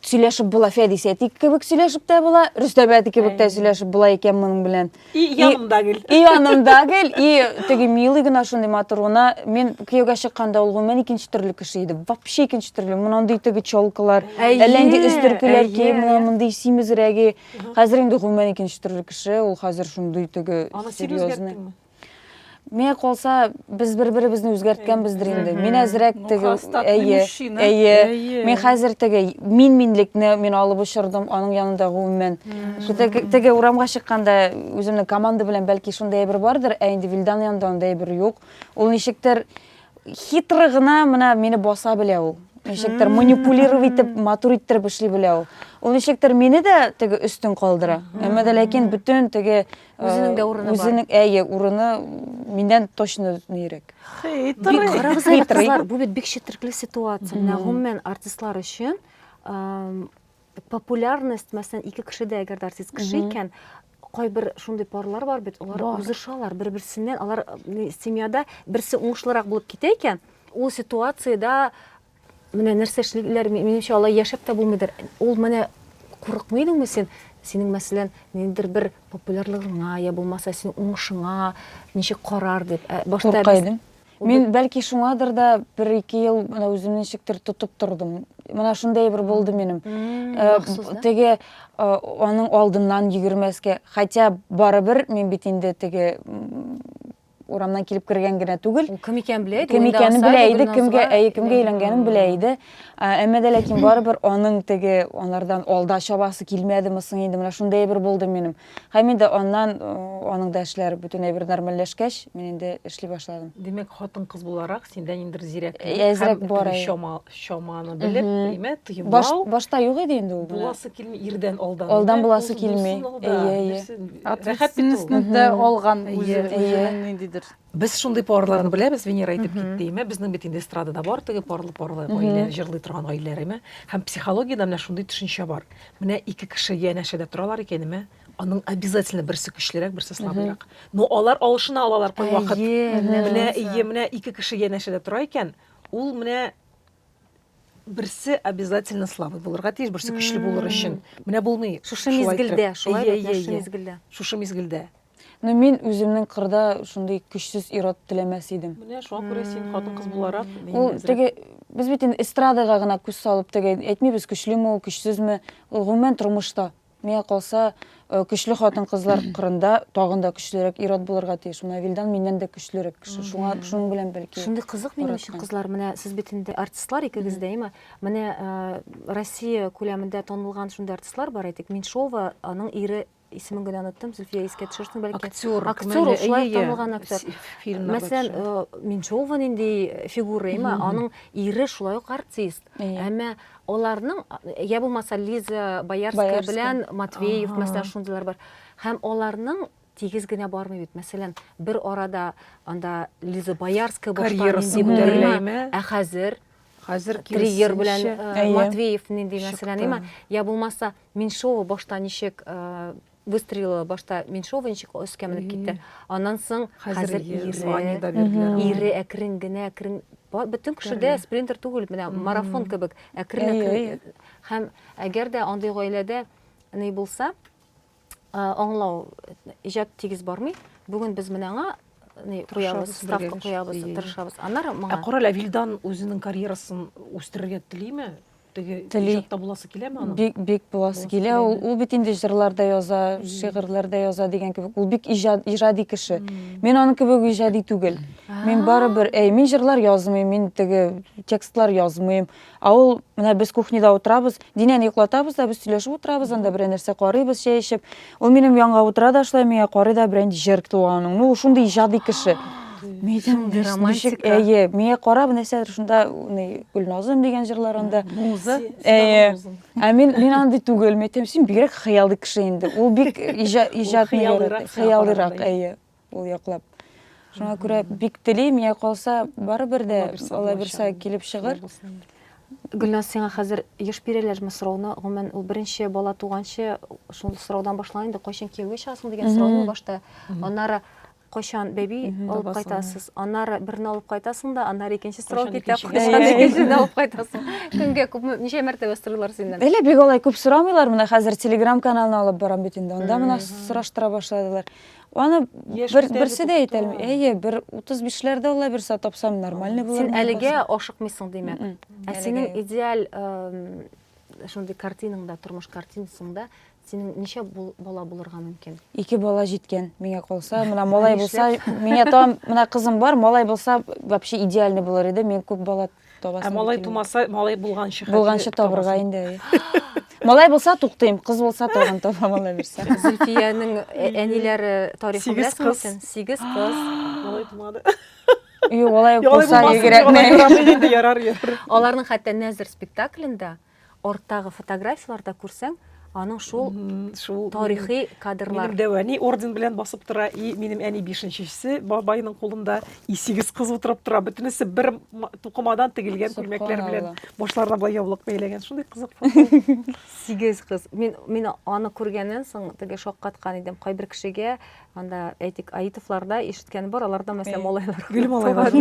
сөйләшеп була фәдис әти кебек сөйләшеп тә була рөстәм әти кебек тә сөйләшеп була икән моның белән И янымда гел. И янымда гел, и теге милый гына шундый матур гына. Мин кияүгә чыкканда ул гомумән икенче төрле кеше иде. Вообще икенче төрле. Мондый теге чолкалар, әлләнди өстөркеләр ки, менә мондый симезрәге. Хәзер инде гомумән икенче төрле кеше. Ул хәзер шундый теге серьезный. Миңа калса, без бер-беребезне үзгәрткәнбездер инде. Мин әзрәк теге, әйе, әйе. Мин хәзер теге мин минлекне мин алып очырдым, аның янында гомумән. Теге урамга чыкканда үземнең команда белән бәлки шундый әйбер бардыр, ә инде Вилдан янында анда әйбер юк. Ул ничектер хитры гына менә мине баса белә ул. Ничектер манипулировать итеп, матур иттереп эшли белә ул. Ул ничектер мине дә теге өстен калдыра. Әмма дә ләкин бөтен теге Үзенең дә урыны бар. Үзенең әйе, урыны миннән точно нирәк. Хитрый. Карагыз әле, кызлар, бу бит бик четерекле ситуация. Менә гомумән артистлар өчен популярность, мәсәлән, ике кеше дә әгәр артист кеше икән, кайбер шундый парлар бар бит, алар узышалар бер-берсеннән, алар семьяда берсе уңышлырак булып китә икән, ул ситуациядә Менә нәрсә эшлиләр, минемчә, алай яшәп тә булмыйдыр. Ул менә курыкмый идеңме син? Синең, мәсәлән, ниндидер бер популярлыгыңа, я булмаса, синең уңышыңа ничек карар дип. Ә башта Курка идем. Мин бәлки шуңадыр да бер-ике ел менә үземне ничектер тотып тордым. Менә шундый бер булды минем. Э, теге э, аның алдыннан йөгермәскә, хотя барыбер мин бит инде теге урамнан килеп кергән генә түгел ул кем икәнен белә иде кем икәнен белә иде кемгә әйе кемгә өйләнгәнен белә иде әмма дә ләкин барыбер аның теге анардан алда чабасы килмәдеме соң инде менә шундый әйбер булды минем һәм инде аннан аның да эшләре бөтенләй бер нормальләшкәч мин инде эшли башладым димәк хатын кыз буларак синдә ниндидер зирәк әзрәк бар чама чаманы белеп, әйме, тыймау. Башта юк иде инде ул. Буласы килми, ирдән алдан. Алдан буласы килми. Әйе, әйе. Ответственностьны да алган үзе ниндидер. Без шундый парларны беләбез, Венера әйтеп китте, әйме, безнең бит инде эстрадада бар теге парлы парлы гаилә, җырлый торган гаиләләр, әйме. Һәм психологиядә менә шундый төшенчә бар. Менә ике кеше янәшәдә торалар икән, әйме, аның обязательно берсе көчлерәк, берсе слабрак. Но алар алышына алалар кайвакыт. Әйе, менә ие, менә ике кеше янәшәдә тора икән, Ул менә берсе обязательно слабый булырга тиеш, берсе көчле булыр өчен. Менә булмый. Шушы мизгелдә, шулай бит, шушы мизгелдә. Шушы мизгелдә. Ну мин үземнең кырда шундый көчсез ират теләмәс идем. Менә шуңа күрә син хатын-кыз буларак, ул теге без бит инде эстрадага гына күз салып теге әйтмибез, көчлеме ул, көчсезме, ул гомумән тормышта. Миңа калса, көчле хатын-кызлар кырында тагын да көчлерәк ир-ат булырга тиеш. Менә Вилдан миннән дә көчлерәк кеше. Шуңа, шуның белән бәлки. Шундый кызык минем өчен кызлар, менә сез бит инде артистлар икегез дә, әйме? Менә Россия күләмендә танылган шундый артистлар бар, әйтик, Меньшова, аның ире исемен генә оныттым, Зөлфия искә төшерсен бәлки. Актер, актер ул шулай танылган актер. Мәсәлән, Меньшова нинди фигура, әйме? Аның ире шулай ук артист. Әмма аларның я булмаса Лиза Боярская белән Матвеев мәсәлән шундыйлар бар. Һәм аларның тигез генә бармый бит. Мәсәлән, бер арада анда Лиза Боярская башкарган дип ә хәзер Хәзер Триггер белән Матвеев нинди мәсәлән, я булмаса Меньшова башта ничек Выстрелила башта меньшого ничек өскә менеп китте. Аннан соң хәзер ире, ире әкрен генә, әкрен бөтен кеше дә спринтер түгел, менә марафон кебек әкрен әкрен. Һәм әгәр дә андый гаиләдә ни булса, аңлау иҗат тигез бармый. Бүген без менә аңа куябыз, ставка куябыз, тырышабыз. Аннары моңа. Ә карале, Вилдан үзенең карьерасын үстерергә телиме? Теге Тели. иҗатта буласы киләме аның? Бик, бик буласы Буласы килә. Ул, киләме? ул бит инде җырлар да яза, шигырьләр дә яза дигән кебек. Ул бик иҗат, иҗади кеше. Мин аның кебек иҗади түгел. Мин барыбер, әй, мин җырлар язмыйм, мин теге текстлар язмыйм. А ул, менә без кухняда утырабыз, Динәне йоклатабыз да, без сөйләшеп утырабыз, анда берәр нәрсә карыйбыз чәй эчеп. Ул минем янга утыра да шулай миңа карый да берән җыр туган аның. Ну, шундый иҗади кеше. Мидем романтик. Әйе, миңа карап нәрсәдер шунда ни Гөлназым дигән җырлар анда. Муза. Әйе. Ә мин мин андый түгел, мидем син бигрәк хыялый кеше инде. Ул бик иҗат иҗат хыялырак, әйе. ул яклап. Шуңа күрә бик телим, я калса, барыбер дә Алла бирсә килеп чыгыр. Гөлназ, сиңа хәзер еш бирәләрме сорауны? Гомумән, ул беренче бала туганчы шул сораудан башлана инде, кайчан кияүгә чыгасың дигән сорау башта. Аннары кайчан бәби алып кайтасыз? Аннары берне алып кайтасың да, аннары икенче сорау китә, кайчан икенчене алып кайтасың? Кемгә күп, ничә мәртәбә сорыйлар синнән? Әле бик алай күп сорамыйлар, менә хәзер Telegram каналны алып барам бит инде, анда менә сораштыра башладылар. Аны бер берсе дә әйтә алмый. Әйе, бер 35ләрдә алла бирсә тапсам нормальный булыр. Син әлегә ашыкмыйсың димәк. Ә синең идеаль шундый картинаңда, тормыш картинасыңда синең ничә бала булырга мөмкин? Ике бала җиткән, миңа калса. Менә малай булса, миңа там, менә кызым бар, малай булса, вообще идеальный булыр иде. Мин күп бала Ә малай тумаса, малай булганчы хәтле. Булганчы табырга инде. Малай булса туктыйм, кыз булса тагын табам Алла бирсә. Зөлфиянең э, әниләре тарихын беләсеңме син? Сигез кыз. Малай тумады. Юк, алай булса, егерәтмәй. Аларның хәтта Нәзер спектаклендә Арттагы фотографияләрдә күрсәң, аның шул тарихи кадрлар. Минем дәвәни орден белән басып тора, и минем әни бишенчесе бабайның кулында, и сигез кыз утырып тора, бөтенесе бер тукымадан тегелгән күлмәкләр белән башларына болай яулык бәйләгән. Шундый кызык фото. Сигез кыз. Мин мин аны күргәннән соң теге шаккаткан идем. Кайбер кешегә Анда, әйтик, Аитовларда ишеткән бар, аларда мәсәлән малайлар. Гел малайлар.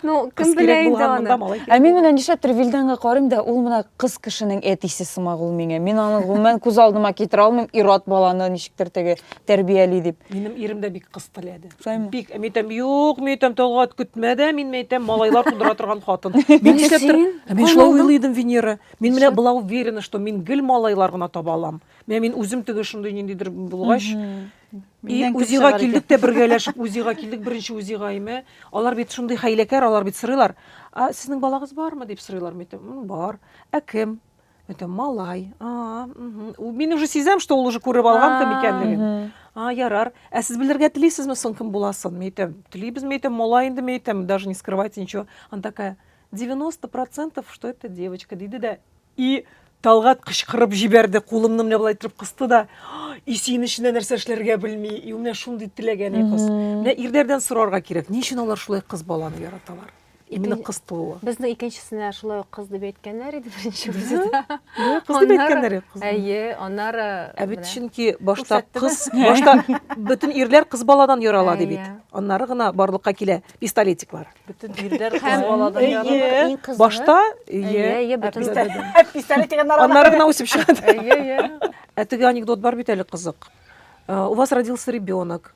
Ну, кем белә инде аны. Ә мин менә нишләптер Вилданга карыйм да, ул менә кыз кешенең әтисе сымак ул миңа. Мин аны гомумән күз алдыма китерә алмыйм, ир-ат баланы ничектер теге тәрбияли дип. Минем ирем дә бик кыз теләде. Бик, мин әйтәм, юк, мин әйтәм, Талгат, көтмә дә, мин әйтәм, малайлар тудыра торган хатын. Мин нишләптер, мин шулай уйлый идем, Венера. Мин менә была уверена, что мин гел малайлар гына таба алам. Менә мин үзем теге шундый ниндидер булгач, и үзига килдек тә бергәләшеп үзига килдек, беренче үзига име. Алар бит шундый хәйләкәр, алар бит сорыйлар. А сезнең балагыз бармы дип сорыйлар митем. Бар. Ә кем? Это малай. А, угу. Мин уже сизәм, что ул уже күреп алган кем икәнлеген. А, ярар. Ә сез белергә телисезме соң кем буласын? Митем. Телибез митем, малай инде митем, даже не скрывайте ничего. Она такая, 90% что это девочка, диде дә И, Талгат кычкырып җибәрде, кулымны менә болай иттереп кысты да, и син эчендә нәрсә эшләргә белми, и менә шундый теләк әни кыз. Менә ирләрдән сорарга кирәк, ни өчен алар шулай кыз баланы яраталар? Именно кыз тууы. Безнең икенчесенә шулай ук кыз дип әйткәннәр иде беренче үзе. Кыз дип әйткәннәр иде. Әйе, аннары Ә бит чөнки башта кыз, башта бөтен ирләр кыз баладан ярала ди бит. Аннары гына барлыкка килә пистолетиклар. Бөтен ирләр кыз баладан яралар. Башта ие. Пистолет дигән арада. Аннары гына үсеп чыгады. Ие, ие. Ә теге анекдот бар бит әле кызык. Э, у вас родился ребенок.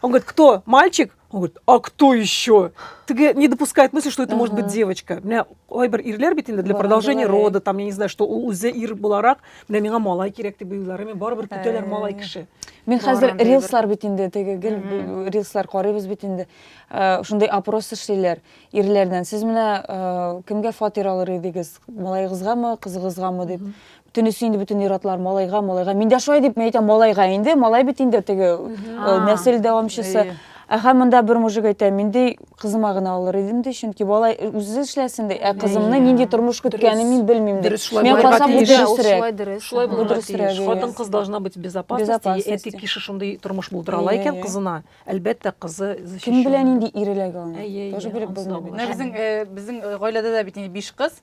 Он говорит, кто? Мальчик? Он говорит, а кто еще? Тебе не допускает мысли, что это может быть девочка. У меня айбер ирлер бит инде для продолжения рода, там, я не знаю, что у үзе ир буларак, менә миңа малай кирәк дип уйлары, мен барыбер көтәләр малай кеше. Мин хәзер рилслар бит инде, теге гел рилслар карыйбыз бит инде. Э, шундый опрос эшлиләр ирләрдән сез менә э, кемгә фатир алыр идегез малаегызгамы кызыгызгамы дип бөтенесе инде бөтен ир-атлар малайга малайга мин дә шулай дип мен әйтәм малайга инде малай бит инде теге э, нәсел дәвамчысы Әхә монда бер мужик әйтә, мин ди кызыма гына алыр идем ди, чөнки бала үзе эшләсен ди, ә кызымны нинди тормыш көткәнен мин белмим ди. Мин карасам бу дөресрәк. Шулай булырга тиеш. Хатын-кыз должна быть безопасности, эти кеше шундый тормыш булдыра ала икән кызына. Әлбәттә, кызы защищенная. Кем белә нинди ир эләгә аңа? Әйе, Тоже белеп ансы да булмый. Менә булачак. безнең, э, безнең э, гаиләдә дә бит инде биш кыз.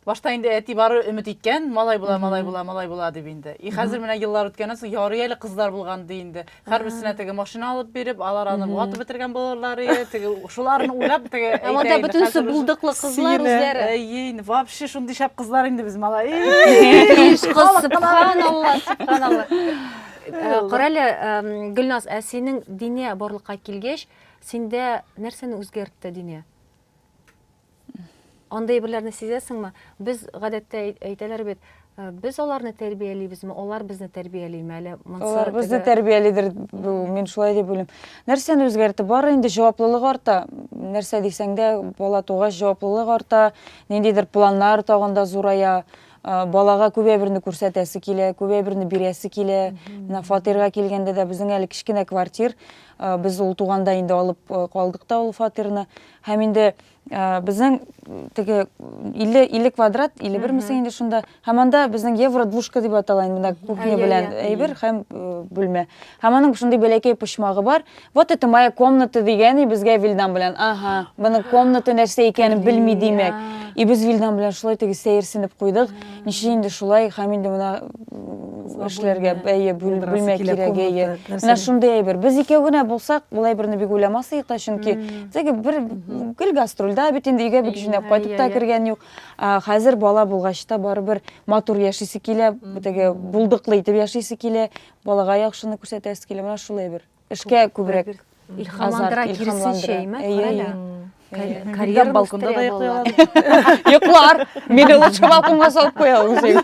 Башта инде әти бары өмет иткән, малай була, малай була, малай була дип инде. И хәзер менә еллар үткәннән соң ярый әле кызлар булган ди инде. Һәрберсенә теге машина алып биреп, алар аны ватып бетергән булырлар иде. Теге шуларны уйлап теге Ә монда әйтә инде, бөтенесе хәзер уже- булдыклы кызлар Сине, үзләре. Әйе, инде вообще шундый шәп кызлар инде без малай. Биш кыз, субханалла, субханалла. Э, Карале, э, Гөлназ, ә синең дине барлыкка килгәч, синдә нәрсәне үзгәртте дине? Андый берләрне сизәсеңме? Без гадәттә әйтәләр бит, э, без аларны тәрбиялибезме, алар безне тәрбиялиме әле? Алар безне тәрбиялидер, мин шулай дип уйлыйм. Нәрсәне үзгәртте? Бары инде җаваплылык арта. Нәрсә дисәң дә, бала тугач җаваплылык арта, ниндидер планнар тагында зурая. балага күп әйберне күрсәтәсе килә, күп әйберне бирәсе килә. Менә фатирга килгәндә дә безнең әле кечкенә квартир, без ул туганда инде алып калдык та ул фатирны. Һәм инде безнең теге 50 50 квадрат, 51 мисең инде шунда. Һәм анда безнең евро двушка дип атала инде менә кухня белән әйбер һәм бүлмә. Һәм аның шундый бәләкәй почмагы бар. Вот это моя комната дигән и безгә Вилдан белән. Ага, моның комната нәрсә икәнен белми димәк. И без Вилдан белән шулай теге сәерсенеп куйдык. Ничә инде шулай һәм инде менә эшләргә әйе бүлмә кирәк әйе. Менә шундый әйбер. Без икәү генә булсак, ул әйберне бик уйламас идек та, чөнки теге бер гел гастрольдә бит инде өйгә бик җүнәп кайтып та кергән юк. Хәзер бала булгач та барыбер матур яшисе килә, теге булдыклы итеп яшисе килә. Балага яхшыны күрсәтәсе килә, менә шул әйбер. Эшкә күбрәк илһамландыра, киресенчә, әйе. Карьера балконда да йоклый ала. Йоклар, мине лучше балконга салып куя үзең.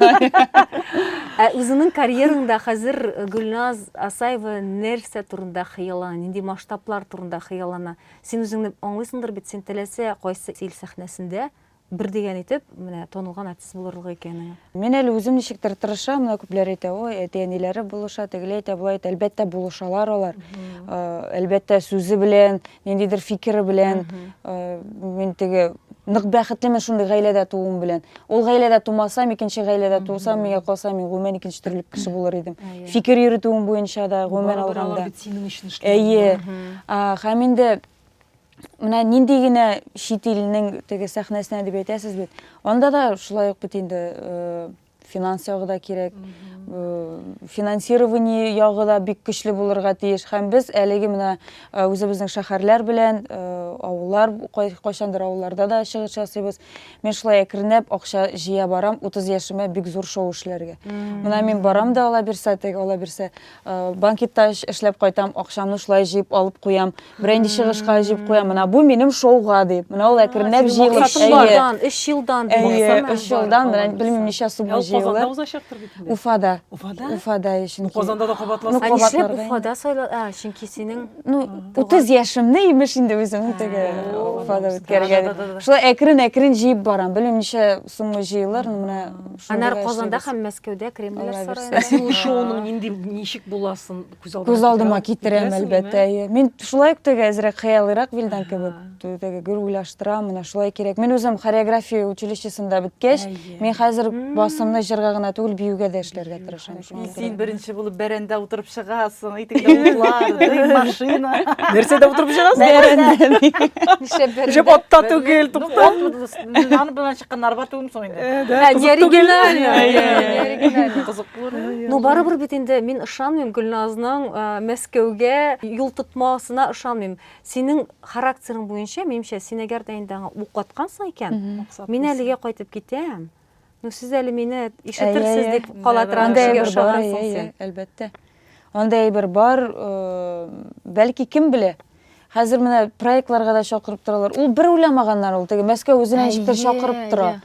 Ә үзеңнең карьераңда хәзер Гөлназ Асаева нәрсә турында хыяллана, нинди масштаблар турында хыяллана? Син үзеңне аңлыйсыңдыр бит, син теләсә кайсы ил сәхнәсендә Бер дигән итеп, менә танылган артист булырлык икән аңа. Мин әле үзем ничектер тырышам, менә күпләр әйтә, ой, әти-әниләре булыша, тегеле әйтә, болай әйтә. Әлбәттә, булышалар алар. Әлбәттә, сүзе белән, ниндидер фикере белән. Мин теге нык бәхетлемен шундый гаиләдә тууым белән. Ул гаиләдә тумасам, икенче гаиләдә тусам, миңа калса, мин гомумән икенче төрле кеше булыр идем. Фикер йөритүем буенча да гомумән алганда. Әйе. Һәм инде менә нинди генә чит илнең теге сәхнәсенә дип әйтәсез бит анда да шулай ук бит инде э, финанс ягы да кирәк э, финансирование ягы да бик көчле булырга тиеш һәм без әлеге менә э, үзебезнең шәһәрләр белән авыллар кайчандыр авылларда да чыгыш ясыйбыз мен шулай әкренләп акча җыя барам 30 яшемә бик зур шоу эшләргә менә мин барам да ала бирсә теге ала бирсә Банкетта эшләп кайтам, акчамны шулай җыеп алып куям. Бренди чыгышка җыеп куям. Менә бу минем шоуга дип. Менә ул әкренләп җыелып, әйе. 3 елдан, 3 елдан, менә белмим ничә сумма җыелды. Уфада узачактыр бит инде. Уфада. Уфада? Уфада чөнки. Казанда да кабатласаң. Ә нишләп Уфада сайлады? А, чөнки синең Ну, 30 яшемне имеш инде үземнең теге Уфада үткәргән. Шулай әкрен-әкрен җыеп барам. Белмим ничә Соңгы җыелыр, менә шул Анар гына Казанда эшлибез. һәм Мәскәүдә Кремльләр Алла бирса. сараенда. Син ул шоуның нинди ничек буласын күз алдына Күз алдыма китерәм, китерәсеңме? әлбәттә. әйе. Мин шулай ук теге әзрәк хыялыйрак Вилдан кебек. Ага. Т- Теге гөр уйлаштырам, менә шулай кирәк. Мин үзем хореография училищесында беткәч, Әйе. мин хәзер М. басымны җырга гына түгел, биюгә дә эшләргә Бию, тырышам. И син беренче булып бәрәндә утырып чыгасың, итегеңдә утлар, дым, машина. Нәрсәдә утырып чыгасың? Бәрәндә. Нишләп бәрәндә? Җеп отта түгел, тукта. Аны белән чыккан арба түгел соң инде. Ну барыбер бит инде мин ышанмыйм Гөлназның Мәскәүгә юл тотмасына ышанмыйм. Синең характерың буенча, минемчә, син әгәр дә инде аңа ук аткансың икән, мин әлегә кайтып китәм. Ну, сез әле мине ишетерсез дип калатрак кешегә ошагансың син. Әлбәттә. Анда әйбер бар, бәлки кем белә. Хәзер менә проектларга да чакырып торалар. Ул бер уйламаганнар ул, теге Мәскәү үзенә ничектер чакырып тора.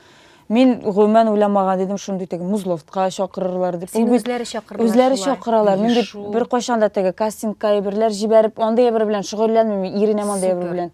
Мин гомумән уйламаган идем, шундый теге Музловтка чакырырлар дип. Син үзләре чакыралар. Үзләре чакыралар. Мин бит бер кайчан да теге кастингка әйберләр җибәреп, андый әйбер белән шөгыльләнмим, иренәм андый әйбер белән.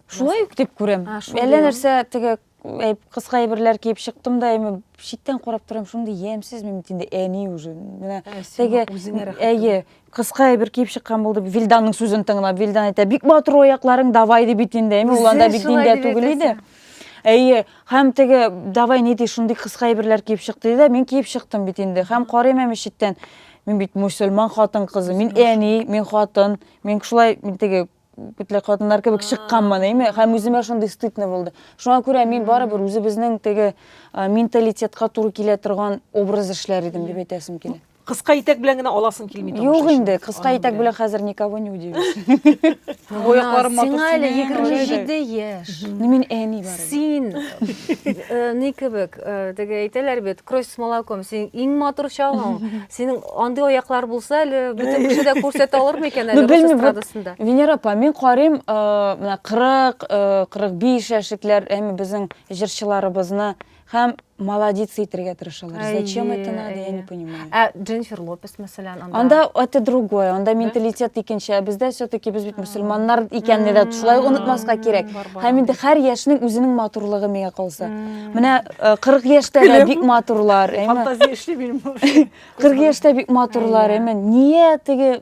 Шулай ук дип күрәм. Әллә нәрсә теге кыска әйберләр киеп чыктым да, әйме читтән карап торам, шундый ямьсез мин инде әни уже. Менә теге әйе, кыска әйбер киеп чыккан булды. Вилданның сүзен тыңлап, Вилдан әйтә, бик матур аякларың, давай дип бит инде. Әйме уланда бик диндә түгел иде. Әйе, һәм теге давай ни ди, шундый кыска әйберләр киеп чык диде, мин киеп чыктым бит инде. Һәм карыйм әме читтән. Мин бит мусульман хатын кызы, мин әни, мин хатын, мин шулай, мин теге бөтенләй хатыннар кебек чыкканмын әйме һәм үземә шундый стыдно булды шуңа күрә мин барыбер үзебезнең теге менталитетка туры килә торган образ эшләр идем дип әйтәсем килә кыска итәк белән генә аласың килми юк инде кыска итәк белән хәзер никого не удивишь аякларым матур сиңа әле егерме җиде яшь мин әни бар Син, э, ни кебек, э, теге әйтәләр бит, кровь с молоком, син иң матур чагың. Синең андый аяклар булса, әле бөтен кеше дә күрсәтә алыр микән әле рус эстрадасында? Венера апа, мин карыйм, э, менә 40, 45 яшьлекләр, әме безнең җырчыларыбызны һәм молодец итергә тырышалар. Әйе, Зачем это надо, я әйе. не понимаю. Ә Дженнифер Лопес, мәсәлән, анда. Анда это другое, анда менталитет икенче, ә бездә все-таки без бит мусульманнар икәнне дә шулай М, онытмаска кирәк. бар, бар. Һәм инде һәр яшьнең үзенең матурлыгы миңа калса. М. Менә э, 40 яшьтә дә бик матурлар, әйме? Фантазия эшли минем. 40 яшьтә бик матурлар, Әйе. әйме? Ния теге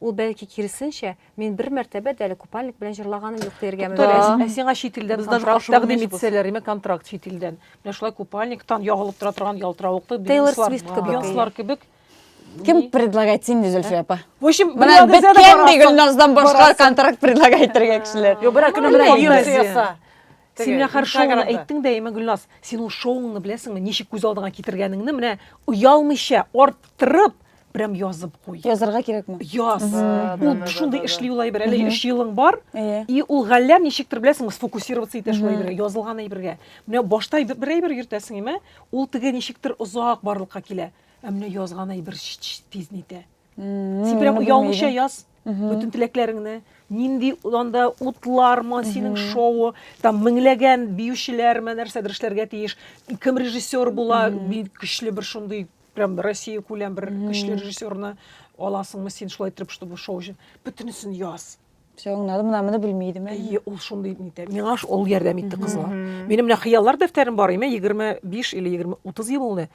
Ул, бәлки, киресенчә, мин бер мәртәбә дә әле купальник белән җырлаганым юк дияргә мөмкин. Туктале, ә сиңа чит илдән контракт тәкъдим итсәләр, димәк, контракт чит илдән. Менә шулай купальниктан ягылып тора торган ялтыравыклы бинуслар кебек. Кем предлагать сине, Зөлфия апа? В общем, менә беткән ди Гөлназдан башка контракт предлагать итәргә кешеләр. Юк, берәр көнне менә юбка яса. Син менә һәр шоуны әйттең дә, әйме, Гөлназ, син ул шоуыңны беләсеңме, ничек күз алдыңа китергәнеңне, менә оялмыйча, арттырып, прям язып куй. Язарга кирәкме? Яз. Ул шундый эшли ул әйбер. Әле өч елың бар, и ул галләм ничектер беләсеңме, сфокусироваться итә шул әйбергә, язылган әйбергә. Менә башта бер әйбер йөртәсең, әйме, ул теге ничектер озак барлыкка килә. Ә менә язган әйбер тиз нитә. Син прям оялмыйча яз бөтен теләкләреңне. Нинди анда утлармы, синең шоу, там меңләгән биючеләрме, нәрсәдер эшләргә тиеш. Кем режиссер була, бик көчле бер шундый прям Россия күләм бер көчле режиссерны аласыңмы син шулай итеп, чтобы шоу өчен. Бөтенесен яз. Все аңлады, мына моны белми идем әле. Әйе, ул шундый нитә. Миңа ш- ул ярдәм итте кызга. Минем менә хыяллар дәфтәрем бар име, 25 или 20, 30 ел булды.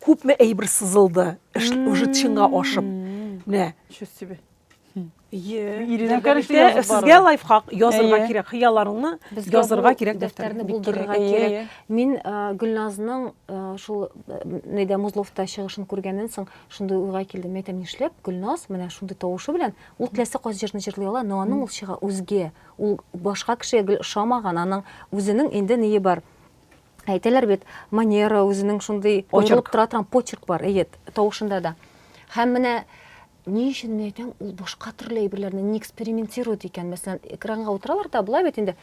Күпме әйбер сызылды, эш уже чинга ашып. Мгм. Менә. Ничего себе. Әйе. Ирина, Дәфтәрдә конечно, бит язып Сезгә бару. лайфхак язырга Әйе. кирәк, хыялларыңны Безгә язырга бу кирәк дәфтәрне дәфтәрне. булдырырга Әйе, кирәк. әйе. Мин э, Гөлназның э, шул э, нидә Музловта чыгышын күргәннән соң шундый уйга килдем. Әйтәм, нишләп Гөлназ менә шундый тавышы белән Ул теләсә кайсы җырны җырлый ала, но аның ул чыга үзге, ул башка кешегә гел ошамаган, аның үзенең инде ние бар, әйтәләр бит, манера, үзенең шундый аерылып тора торган почерк бар, әйе, тавышында да. Һәм менә ни өчен мин әйтәм, ул башка төрле әйберләрне не экспериментирует икән, мәсәлән, экранга утыралар да, болай бит инде,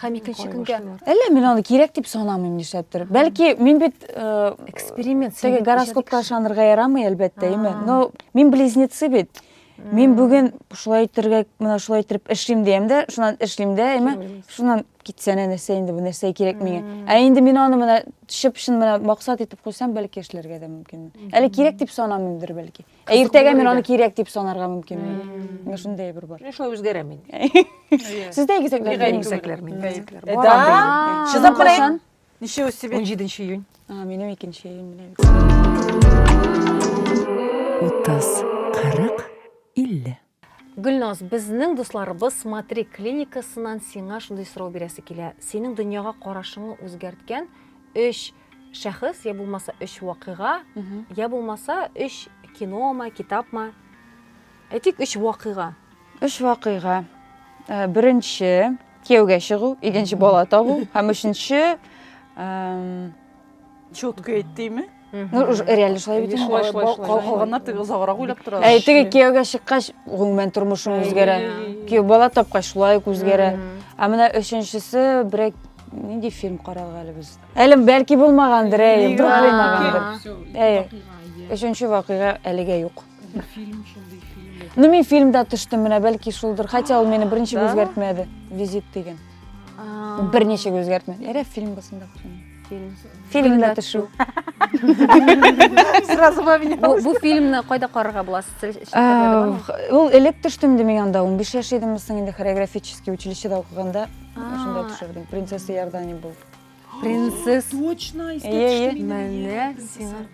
Һәм икенче көнгә Әллә мин аны кирәк дип санамыйм нишләптер. Бәлки мин бит э, эксперимент теге гороскопка ышанырга ярамый әлбәттә, име? Но мин близнецы бит. Мин бүген шулай итәргә, менә шулай итеп эшлим дигән дә, шуннан эшлим дә, име? Шуннан китсә нәрсә инде бу нәрсә кирәк миңа. Ә инде мин аны менә чып-чын менә максат итеп куйсам, бәлки эшләргә дә мөмкин. Әле кирәк дип санамыймдыр бәлки. Ә иртәгә мин аны кирәк дип санарга мөмкин. Менә шундый әйбер бар. Менә шулай үзгәрә мин. Сез дә игезәкләр. Бигай игезәкләр мин. Да. Чыдап белән. Ничего себе. 17 июнь. А, минем 2 июнь белән. 30, 40, 50. Гөлназ, безнең дусларыбыз Смотри клиникасыннан сиңа шундый сорау бирәсе килә, синең дөньяга карашыңны үзгәрткән өч шәхес, йә булмаса өч вакыйга, йә булмаса өч киномы, китапмы, әйтик, өч вакыйга. Өч вакыйга. Беренче, кияүгә чыгу, икенче, бала табу һәм өченче, Чётко әйт дими. Ну, реально шулай бит. Шулай, шулай, шулай. Калганнар теге озаграк уйлап тора. Әй, теге кияүгә чыккач, гомумән тормышың үзгәрә. Кияү бала тапкач, шулай ук үзгәрә. Ә менә өченчесе берәк нинди фильм карадык әле без? Әлем бәлки булмагандыр, әй, бер булмагандыр. Әй, өченче вакыйга әлегә юк. Бу фильм шундый фильм. Ну мин фильмда төштем, менә бәлки шулдыр. Хотя ул мине берничек Да. үзгәртмәде. Визит дигән. А, Берничек үзгәртмәде. Ярә фильм булсын да. фильм. Фильмда төшү. Сразу во меня. Бу, бу фильмны кайда карарга була? Социаль челтәрләрдә Ә, бармы? х- Ул элек төштем дим мин анда, 15 яшь идем, соң инде хореографический училищеда укыганда А. шунда төшердем. Принцесса Иордания булып. Принцесс. Точно, из Ие, менә сиңа.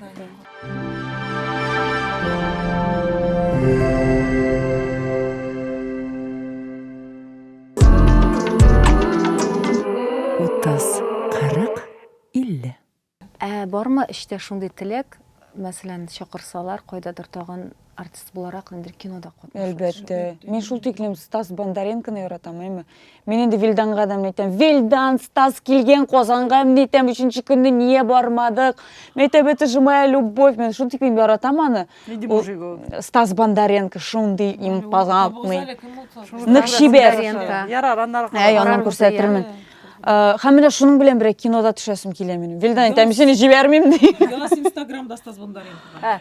Утыз, кырык, илле. Ә бармы эчтә шундый теләк, мәсәлән, чакырсалар, кайдадыр тагын артист буларак инде кинода катнашу әлбәттә мин шул тиклем стас бондаренконы яратам әйме мин инде вилданга да мен әйтәм вилдан стас килгән казанга мен әйтәм өченче көнне нигә бармадык мен әйтәм это же моя любовь мен шул тиклем яратам аны стас бондаренко шундый импозантный нык чибәр ярар аннары әй аннан күрсәтермен һәм менә шуның белән бергә кинода төшәсем килә минем вилдан әйтәм мин сине җибәрмим ди инстаграмда стас бондаренко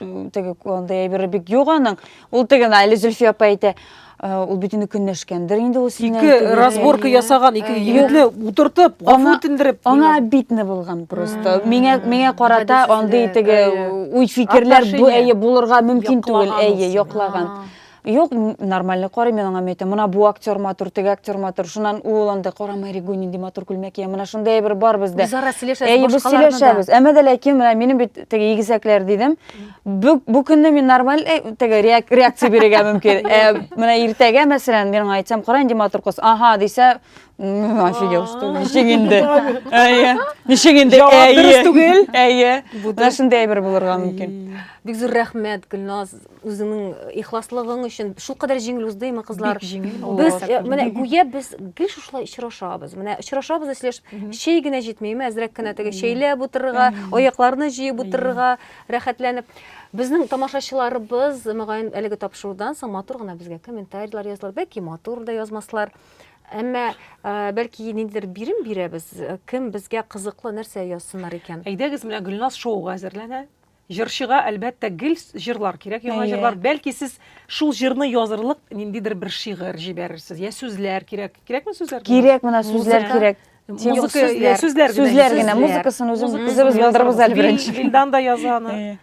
теге андай әйбере бик юк аның. Ул теге әле Зөлфия апа әйтә, Э, ул бит инде көнләшкәндер инде ул синә ике разборка ясаган ике егетне утыртып гафу үтендереп аңа обидно булган просто миңа миңа карата андый теге уй фикерләр бу әйе булырга мөмкин түгел әйе яклаган Юк, нормальный карыйм мин аңа мәйтәм. Мына бу актер матур, теге актер матур. Шуннан ул анда кара Маригу нинди матур күлмәк кия. Менә шундай әйбер бар бездә. Без ара сөйләшәбез. Әйе, без сөйләшәбез. Әмма дә ләкин менә минем бит теге игезәкләр дидем. Бу, бу көнне мин нормаль э, теге реакция бирергә мөмкин. Ә менә иртәгә, мәсәлән, мин аңа әйтсәм, кара инде матур кыз. Ага, дисә, офигел, что ничек инде. Әйе. Ничек инде? Әйе. Әйе. Менә шундай әйбер булырга мөмкин. Бик зур рәхмәт, Гөлназ. үзеңнең ихласлыгың өчен шулкадәр җиңел уздыймы кызлар бик җиңел без э, менә гүя без гел шушылай очрашабыз менә очрашабыз да сөйләшеп чәй генә җитмиме әзрәк кенә теге чәйләп утырырга аякларны җыеп утырырга рәхәтләнеп безнең тамашачыларыбыз мөгаен әлеге тапшырудан соң матур гына безгә комментарийлар язлар бәлки матур да язмаслар әмма э, бәлки ниндидер бирем бирәбез э, кем безгә кызыклы нәрсә язсыннар икән әйдәгез менә гөлназ шоуга әзерләнә Җырчыга, әлбәттә, гел җырлар кирәк, яңа җырлар. Бәлки сез шул җырны язырлык ниндидер бер шигырь җибәрерсез, я сүзләр кирәк. Кирәкме сүзләр? Кирәк, менә сүзләр кирәк. Музыка, сүзләр генә. Сүзләр генә, музыкасын үзем үзебез булдырабыз әле беренче. Вилдан да яза аны.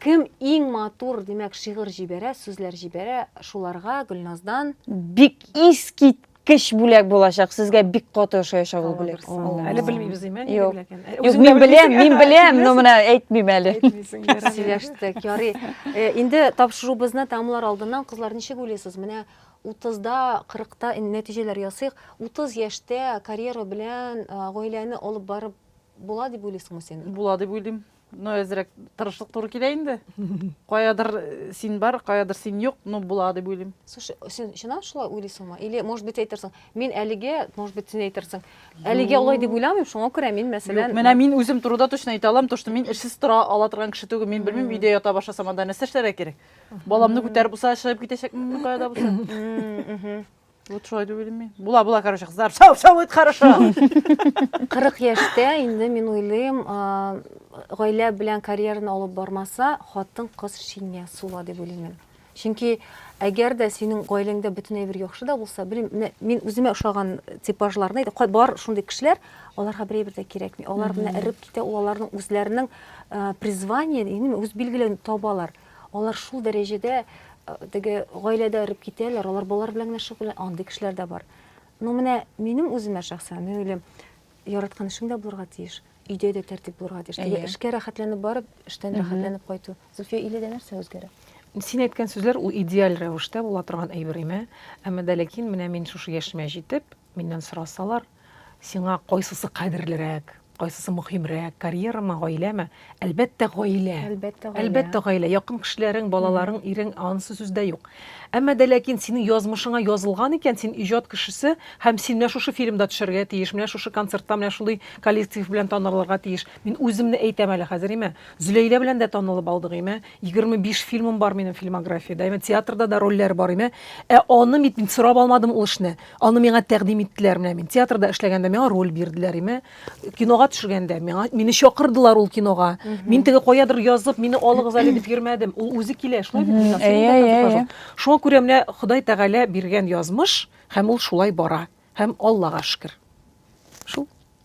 Кем иң матур, димәк, шигырь җибәрә, сүзләр җибәрә, шуларга Гөлназдан бик искит кеш бүләк булачак сезгә бик каты ошаячак ул бүләк әле белмибез диме юк юк мин беләм мин беләм но менә әйтмим әле сөйләштек ярый э, инде тапшыруыбызны тәмамлар алдыннан кызлар ничек уйлыйсыз менә утызда кырыкта нәтиҗәләр ясыйк утыз яшьтә карьера белән э, гаиләне алып барып була дип уйлыйсыңмы син була дип уйлыйм Ну, әзерәк тырышлык туры килә инде. Каядыр э, син бар, каядыр син юк, ну була дип уйлыйм. Слушай, син чыннан шулай уйлыйсыңмы? Или, может быть, әйтерсең, мин әлегә, может быть, син әйтерсең, әлегә алай дип уйламыйм, шуңа күрә мин, Юк, мәсәлән, менә мин үзем турыда точно әйтә алам, то что мин эшсез тора ала торган кеше түгел. Мин белмим, өйдә ята башласам, анда нәрсә эшләргә кирәк? Баламны күтәреп булса, чыгып китәчәкмен кая да булса. Мм, мгм. Вот шулай дип уйлыйм мин. Була, була, короче, кызлар. Шау, шау, это хорошо. 40 яшьтә инде мин уйлыйм, а, гаилә белән карьераны алып бармаса, хатын кыз шиня сула дип уйлыйм мин. Чөнки әгәр дә синең гаиләңдә бөтен әйбер яхшы да булса, белмим, менә мин үземә ошаган типажларны әйтәм. Кай- Бар шундый кешеләр, аларга бер әйбер дә кирәкми. Алар менә эреп китә, ул аларның үзләренең а, призваниен, именно үз билгеләвен табалар. Алар шул дәрәҗәдә теге гаиләдә эреп китәләр, алар балалар белән генә шөгыльләнә, андый кешеләр дә бар. Ну менә минем үземә шәхсән, мин уйлыйм, яраткан эшең дә булырга тиеш, өйдә дә тәртип булырга тиеш. Теге эшкә рәхәтләнеп барып, эштән рәхәтләнеп кайту. Зөлфия, иледә нәрсә үзгәрә? Син әйткән сүзләр ул идеаль рәвештә була торган әйбер имә, әмма дә ләкин менә мин шушы яшемә җитеп, миннән сорасалар, Сиңа кайсысы кадерлерәк, кайсысы мөһимрәк, карьерамы, гаиләме? Әлбәттә, гаилә. Әлбәттә, гаилә. Әлбәттә, гаилә. Якын кешеләрең, балаларың, ирең, анысы сүз дә юк. Әмма дә ләкин синең язмышыңа язылган икән, син иҗат кешесе һәм син менә шушы фильмда төшәргә тиеш, менә шушы концертта менә шундый коллектив белән танылырга тиеш. Мин үземне әйтәм әле хәзер, имә. Зөләйлә белән дә танылып алдык, имә. 25 фильмым бар минем фильмографиядә, имә. Театрда да рольләр бар, имә. Ә аны бит мин сорап алмадым ул эшне. Аны миңа тәкъдим иттеләр. Менә мин театрда эшләгәндә миңа роль бирделәр име. Кинога төшергәндә миңа мине чакырдылар ул кинога. Мин теге каядыр язып, мине алыгыз әле дип йөрмәдем. Ул үзе килә, шулай бит миңа. Әйе, Шуңа күрә менә Ходай Тәгалә биргән язмыш һәм ул шулай бара. Һәм Аллага шөкер. Шул.